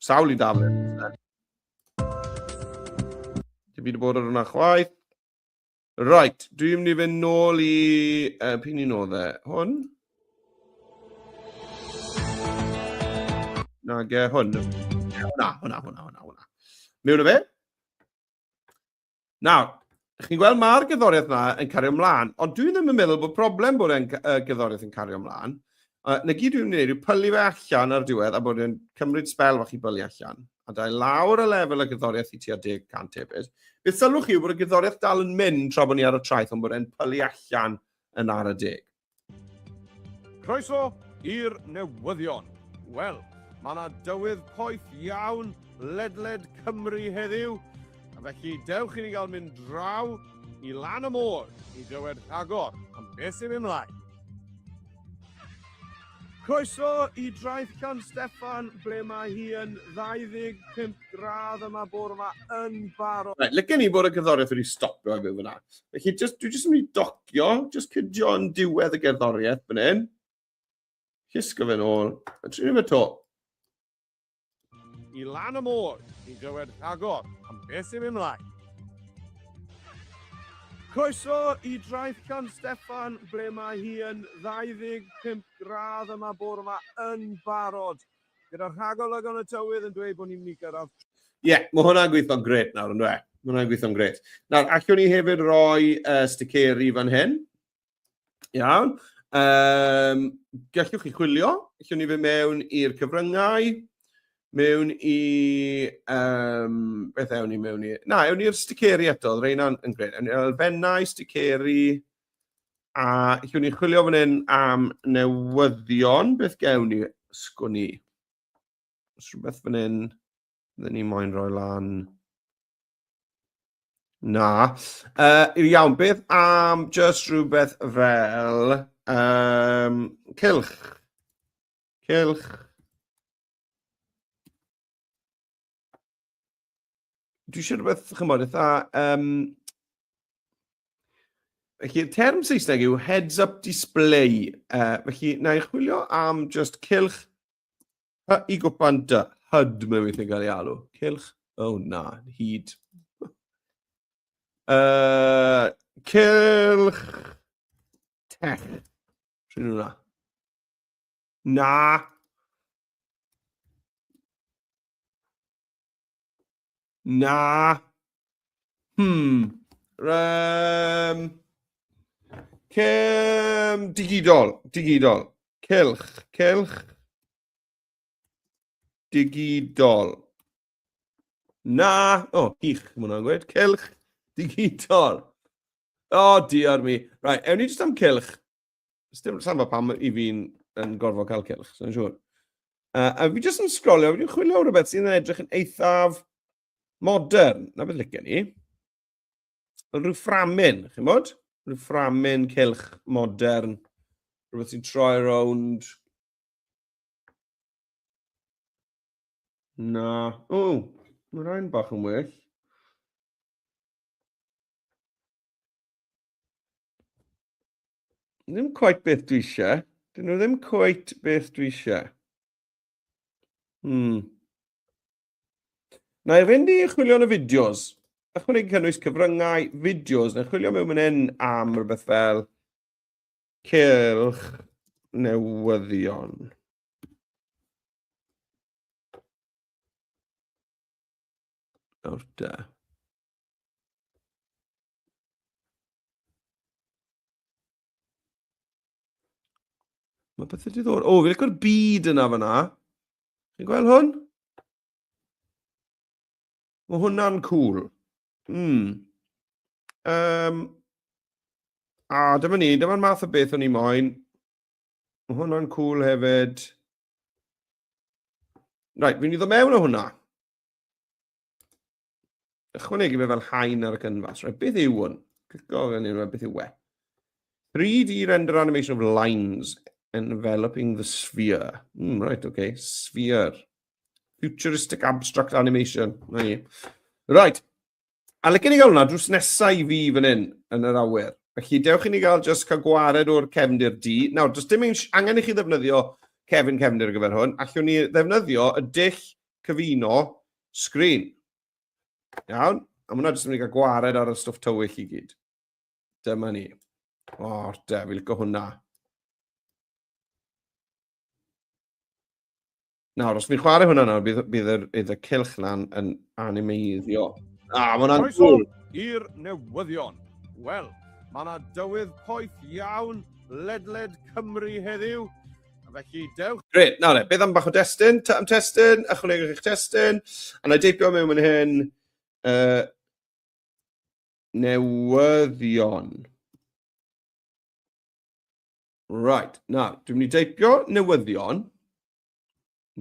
Sawl i Dafydd. Dwi wedi bod ar hwnna chwaith. Right, dwi'n mynd i fynd nôl i... Uh, pyn i'n oedd e? Hwn? Nag e, hwn. Hwna, hwna, hwna, hwna, hwna. Mewn o fe? Nawr, chi'n gweld mae'r gyddoriaeth yna yn cario ymlaen, ond dwi ddim yn meddwl bod problem bod e'n uh, gyddoriaeth yn cario ymlaen. Uh, na gyd dwi'n gwneud yw pylu fe allan ar diwedd a bod e'n cymryd spel fach i bylu allan. A da lawr y lefel y gyddoriaeth i tua 10% hefyd. Beth sylwch chi yw bod y gyddoriaeth dal yn mynd tra bod ni ar y traeth ond bod e'n pylu allan yn ar y deg. Croeso i'r newyddion. Wel, mae yna dywydd poeth iawn ledled Cymru heddiw, a felly dewch i ni gael mynd draw i lan y môr i glywed rhagor am beth sy'n mynd mlaen. Croeso i Draeth Can Steffan, ble mae hi yn 25 gradd yma bore yma yn barod. Right, lycen ni bod y cyddoriaeth wedi stopio fe fyna. Felly, just, dwi jyst yn mynd i doc Cio, just cydio yn diwedd y gerddoriaeth fan hyn. Cysgo fe'n ôl, a trin fe to. I lan y môr, i glywed rhagor am beth sy'n mynd mlaen. Croeso i Draeth Can Steffan, ble mae hi yn 25 gradd yma bore yma yn barod Gyda rhagolwg yn y tywydd yn dweud bod ni'n mynd i gyrraedd. Ie, yeah, mae hwnna'n gweithio'n gret nawr, yn dwe? Mae hwnna'n gweithio'n gret. Nawr, allwn ni hefyd roi uh, sticeri fan hyn. Iawn. Um, gallwch chi chwilio. Allwn ni fe mewn i'r cyfryngau. Mewn i... Um, beth ewn ni mewn i? Na, ewn ni'r sticeri eto. Reina'n yn gret. Ewn ni elfennau, sticeri... Sticeri A lle ni'n chwilio fan hyn am newyddion, beth gewn ni? Sgwn i. Os rhywbeth fan hyn, fydden ni moyn rhoi lan. Na. Uh, iawn, beth am just rhywbeth fel um, cilch? Cilch. dwi eisiau rhywbeth, chymod, eitha... Um, felly, term Saesneg yw heads-up display. Uh, felly, na i chwilio am just cilch hy i gwpan dy hyd mewn weithio'n cael ei alw. Cilch, oh na, hyd. Uh, cilch tech. Rwy'n hwnna. Na. Na. Hmm. Um, cym digidol, digidol. Cylch, cylch. Digidol. Na. O, oh, hych, mae hwnna'n gweud. Cylch digidol. O, oh, diar mi. Rai, right, ewn ni jyst am cylch. Sdim samba pam i fi'n yn gorfod cael cilch, sy'n siŵr. Uh, a fi jyst yn sgrolio, fi'n chwilio rhywbeth sy'n edrych yn eithaf modern. Na beth lygen ni. Rhyw fframyn, chi'n bod? Rhyw fframyn cilch modern. Rhywbeth sy'n troi rownd. Na. O, mae'n rhain bach yn well. Ddim quite beth dwi eisiau. Dyn nhw ddim quite beth dwi eisiau. Hmm. Na i fynd i chwilio yn y fideos. Ychwanegu cynnwys cyfryngau, fideos, neu chwilio mewn mynd hyn am rhywbeth fel cylch newyddion. Nawr da. Mae bethau diddor. O, fi'n licor byd yna fyna. Chi'n gweld hwn? Mae hwnna'n cool. Mm. Um, a dyma ni, dyma'r math o beth o'n i moyn. Mae hwnna'n cool hefyd. Right, fi'n iddo mewn o hwnna. ychwanegu fe fel haen ar y canfas. Right, beth yw hwn? Clico gan unrhyw beth yw we. 3D render animation of lines enveloping the sphere. Mm, right, okay, sphere. Futuristic abstract animation. Na i. Right. A lycyn i gael hwnna drws nesau i fi fan hyn yn yr awyr. Felly, dewch i ni gael just cael gwared o'r cefndir di. Nawr, does dim angen i chi ddefnyddio Kevin Cefnir ar gyfer hwn, allwn ni ddefnyddio y dull cyfuno sgrin. Iawn? A mae hwnna jyst yn mynd i gael gwared ar y stwff tywyll i gyd. Dyma ni. O, de, fi licio hwnna. Nawr, os fi'n chwarae hwnna nawr, bydd, bydd, yr, bydd y cilch na'n yn animeiddio. A, mae hwnna'n gwl. i'r newyddion. Wel, mae yna dywydd poeth iawn ledled Cymru heddiw. Felly, dewch. Gret, nawr le, beth am bach o destun? Ta am testun, ychwanegwch eich testun. A na deipio mewn yn hyn. Uh, newyddion. Right, na, dwi'n mynd i deipio newyddion.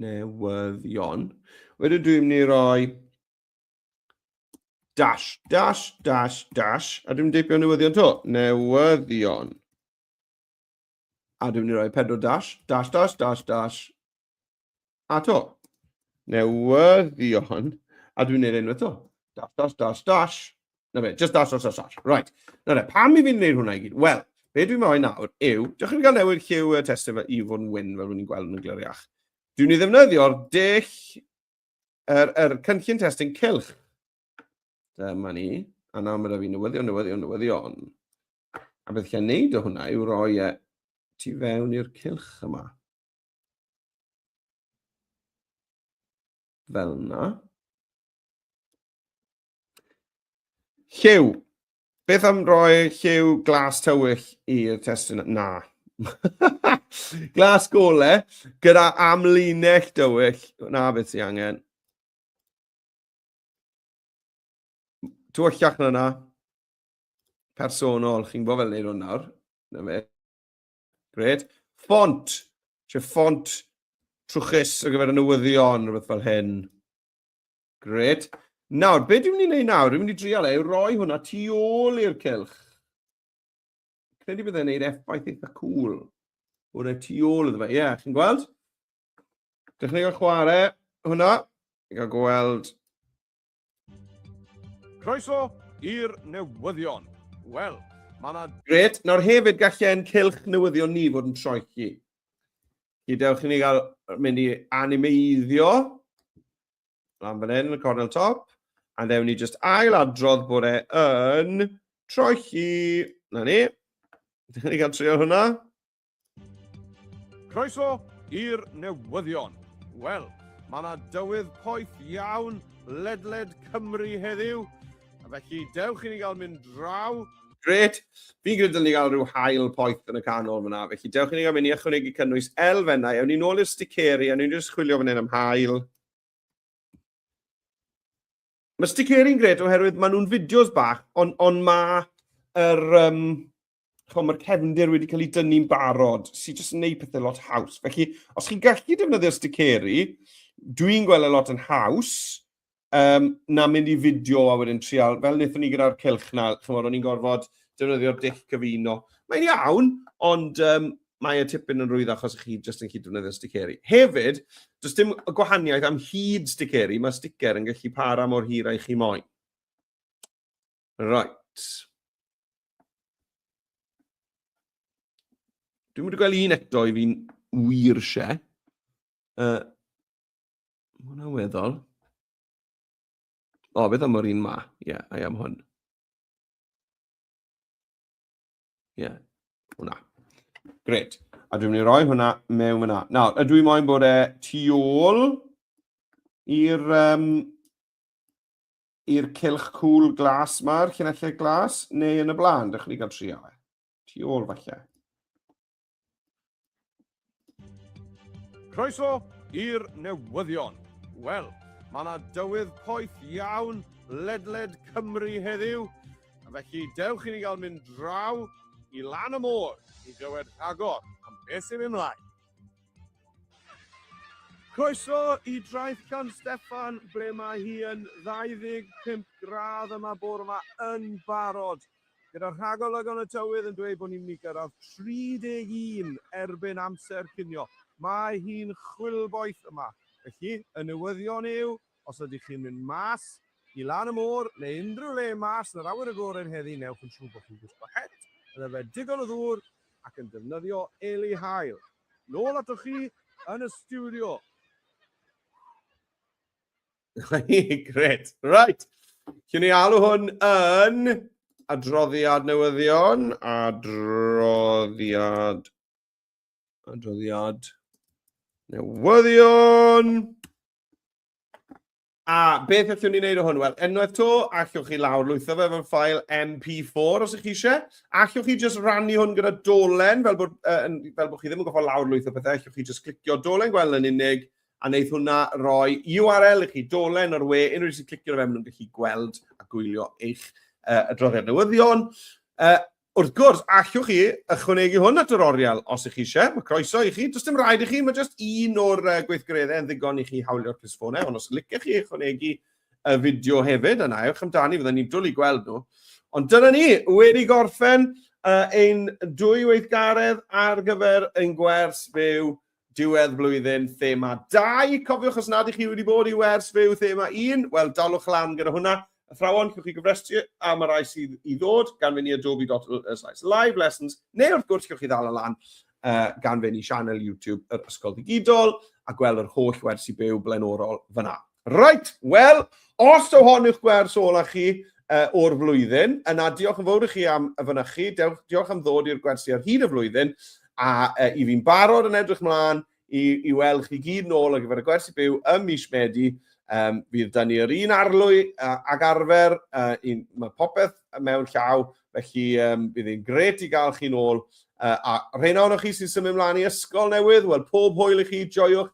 Newyddion. Wedyn dwi'n mynd i roi dash, dash, dash, dash, a dwi'n mynd i deipio newyddion to. Newyddion. A dwi'n mynd i roi pedwar dash, dash, dash, dash, dash. A to. Newyddion. A dwi'n neud enw eto. Dash, dash, dash, dash. Na fe, just dash, dash, dash, dash. Right. Na fe, pam i fi'n neud hwnna i gyd? Wel, be dwi'n mynd i nawr yw, diolch i gael newid lliw y testyn fe i fod yn wyn fel rwy'n gweld yn y gliriach. Dwi'n i ddefnyddio'r dull, yr, er, er cynllun testyn cylch. Dyma ni. A nawr mae da fi newyddion, newyddion, newyddion. A beth chi'n neud o hwnna yw roi e tu fewn i'r cylch yma. Fel yna. Lliw. Beth am roi lliw glas tywyll i'r testyn? Na. glas gole gyda amlinell dywyll. Na beth sy'n angen. Tywyllach na na. personol, chi'n gwybod fel neud hwn nawr. Na fe. Gred. Font. Lle font trwchus ar gyfer y newyddion, rhywbeth fel hyn. Gred. Nawr, be dwi'n mynd i wneud nawr? Dwi'n mynd i drial e, yw roi hwnna tu ôl i'r cilch. Credu byddai'n gwneud effaith eitha cool. Hwna tu ôl iddo fe. Ie, yeah, chi'n gweld? Dechrau gael chwarae hwnna. Gael gweld Croeso i'r newyddion. Wel, mae yna... Gret, nawr hefyd gallen cylch newyddion ni fod yn troi chi. Gydewch i ni gael mynd i animeiddio. Lan fan hyn, y cornel top. A ddewn ni just ail adrodd bod e yn troi chi. Na ni. Dyn ni gael trio hwnna. Croeso i'r newyddion. Wel, mae yna dywydd poeth iawn ledled Cymru heddiw, a felly dewch i ni gael mynd draw. Gret, fi'n gwneud dylwn ni gael rhyw hael poeth yn y canol fyna, felly dewch i ni gael mynd i ychwanegu cynnwys elfennau, ewn ni nôl i'r sticeri, a ni'n just chwilio fan hyn am hael. Mae sticeri'n gret oherwydd maen nhw'n fideos bach, ond on mae yr, um, mae'r cefndir wedi cael ei dynnu'n barod, sy'n jyst yn gwneud pethau lot haws. Felly, os chi'n gallu defnyddio sticeri, dwi'n gweld y e lot yn haws, um, na mynd i fideo a wedyn trial, fel wnaethon ni gyda'r cilch na, chymod, o'n i'n gorfod defnyddio'r dic cyfuno. Mae'n iawn, ond um, mae e tipyn yn rwydd achos chi jyst yn cyd-defnyddio sticeri. Hefyd, does dim gwahaniaeth am hyd sticeri, mae sticer yn gallu para mor hir a'i chi moyn. Right. Dwi'n mynd i gweld un eto i fi'n wir se. Uh, mae hwnna'n weddol. O, beth am yr un ma? Ie, yeah, I am hwn. Ie, yeah. hwnna. Gret. A dwi'n mynd i roi hwnna mewn yna. Nawr, ydw i moyn bod e tu ôl i'r um, i'r cilch cwl glas ma'r cynellid glas, neu yn y blaen, dych chi'n cael trio e. Tu ôl falle. Croeso i'r newyddion. Wel, mae yna dywydd poeth iawn ledled Cymru heddiw, a felly dewch i ni gael mynd draw i lan y môr i glywed rhagor am beth sy'n mynd mlaen. Croeso i draeth gan Steffan, ble mae hi yn 25 gradd yma bore yma yn barod Gyda'r rhagolygon y tywydd yn dweud bod ni'n mynd i gyrraedd 31 erbyn amser cinio, mae hi'n chwilboeth yma. Felly, y newyddion yw, os ydych chi'n mynd mas i lan y môr neu unrhyw le mas yn yr awyr agored heddi, newch yn siŵr bod chi'n gwisgo het, yn yfed digon o ddŵr ac yn defnyddio eli haul. Nôl atoch chi yn y stiwdio. Gret. Right. Cyn ni alw hwn yn adroddiad newyddion, adroddiad, adroddiad newyddion. A beth allwn ni wneud o hwn? Wel, enwaith to, allwch chi lawr lwytho fe fel ffael MP4 os ych chi eisiau. Allwch chi just rannu hwn gyda dolen, fel bod, uh, fel bod chi ddim yn goffa lawr lwytho pethau, allwch chi just clicio dolen gweld yn unig, a wneith hwnna roi URL i chi, dolen o'r we, unrhyw un sy'n clicio fe, maen nhw'n gallu gweld a gwylio eich uh, adroddiad newyddion. Uh, wrth gwrs, allwch chi ychwanegu hwn at yr oriel os ych chi eisiau, mae croeso i chi, does dim rhaid i chi, mae jyst un o'r uh, gweithgareddau yn ddigon i chi hawlio'r clisfonau, ond os licech chi ychwanegu y fideo hefyd, yna ewch amdani, fydden ni'n dwlu gweld nhw. Ond dyna ni, wedi gorffen uh, ein dwy weithgaredd ar gyfer ein gwers byw Diwedd blwyddyn thema 2. Cofiwch os nad ych chi wedi bod i wers fyw thema 1, wel dalwch lan gyda hwnna. Athrawon, chiwch chi gyfrestru am y rai sydd i ddod gan fynd i adobe.ly live lessons, neu wrth gwrs chiwch chi ddal y lan uh, gan fynd i sianel YouTube yr Ysgol Digidol a gweld yr holl wersi byw blaenorol fyna. Reit, wel, os yw hon yw'ch gwers ola chi uh, o'r flwyddyn, yna diolch yn fawr i chi am y fynychu, diolch am ddod i'r gwersi ar hyd y flwyddyn, a uh, i fi'n barod yn edrych mlaen i, i weld chi gyd nôl ar gyfer y gwersi byw ym mis Medi, Um, bydd da ni yr un arlwy uh, ag arfer, uh, un, mae popeth mewn llaw, felly um, bydd hi'n gret i gael chi'n ôl. Uh, a rheina ohonoch chi sy'n symud ymlaen i ysgol newydd, wel pob hwyl i chi, joiwch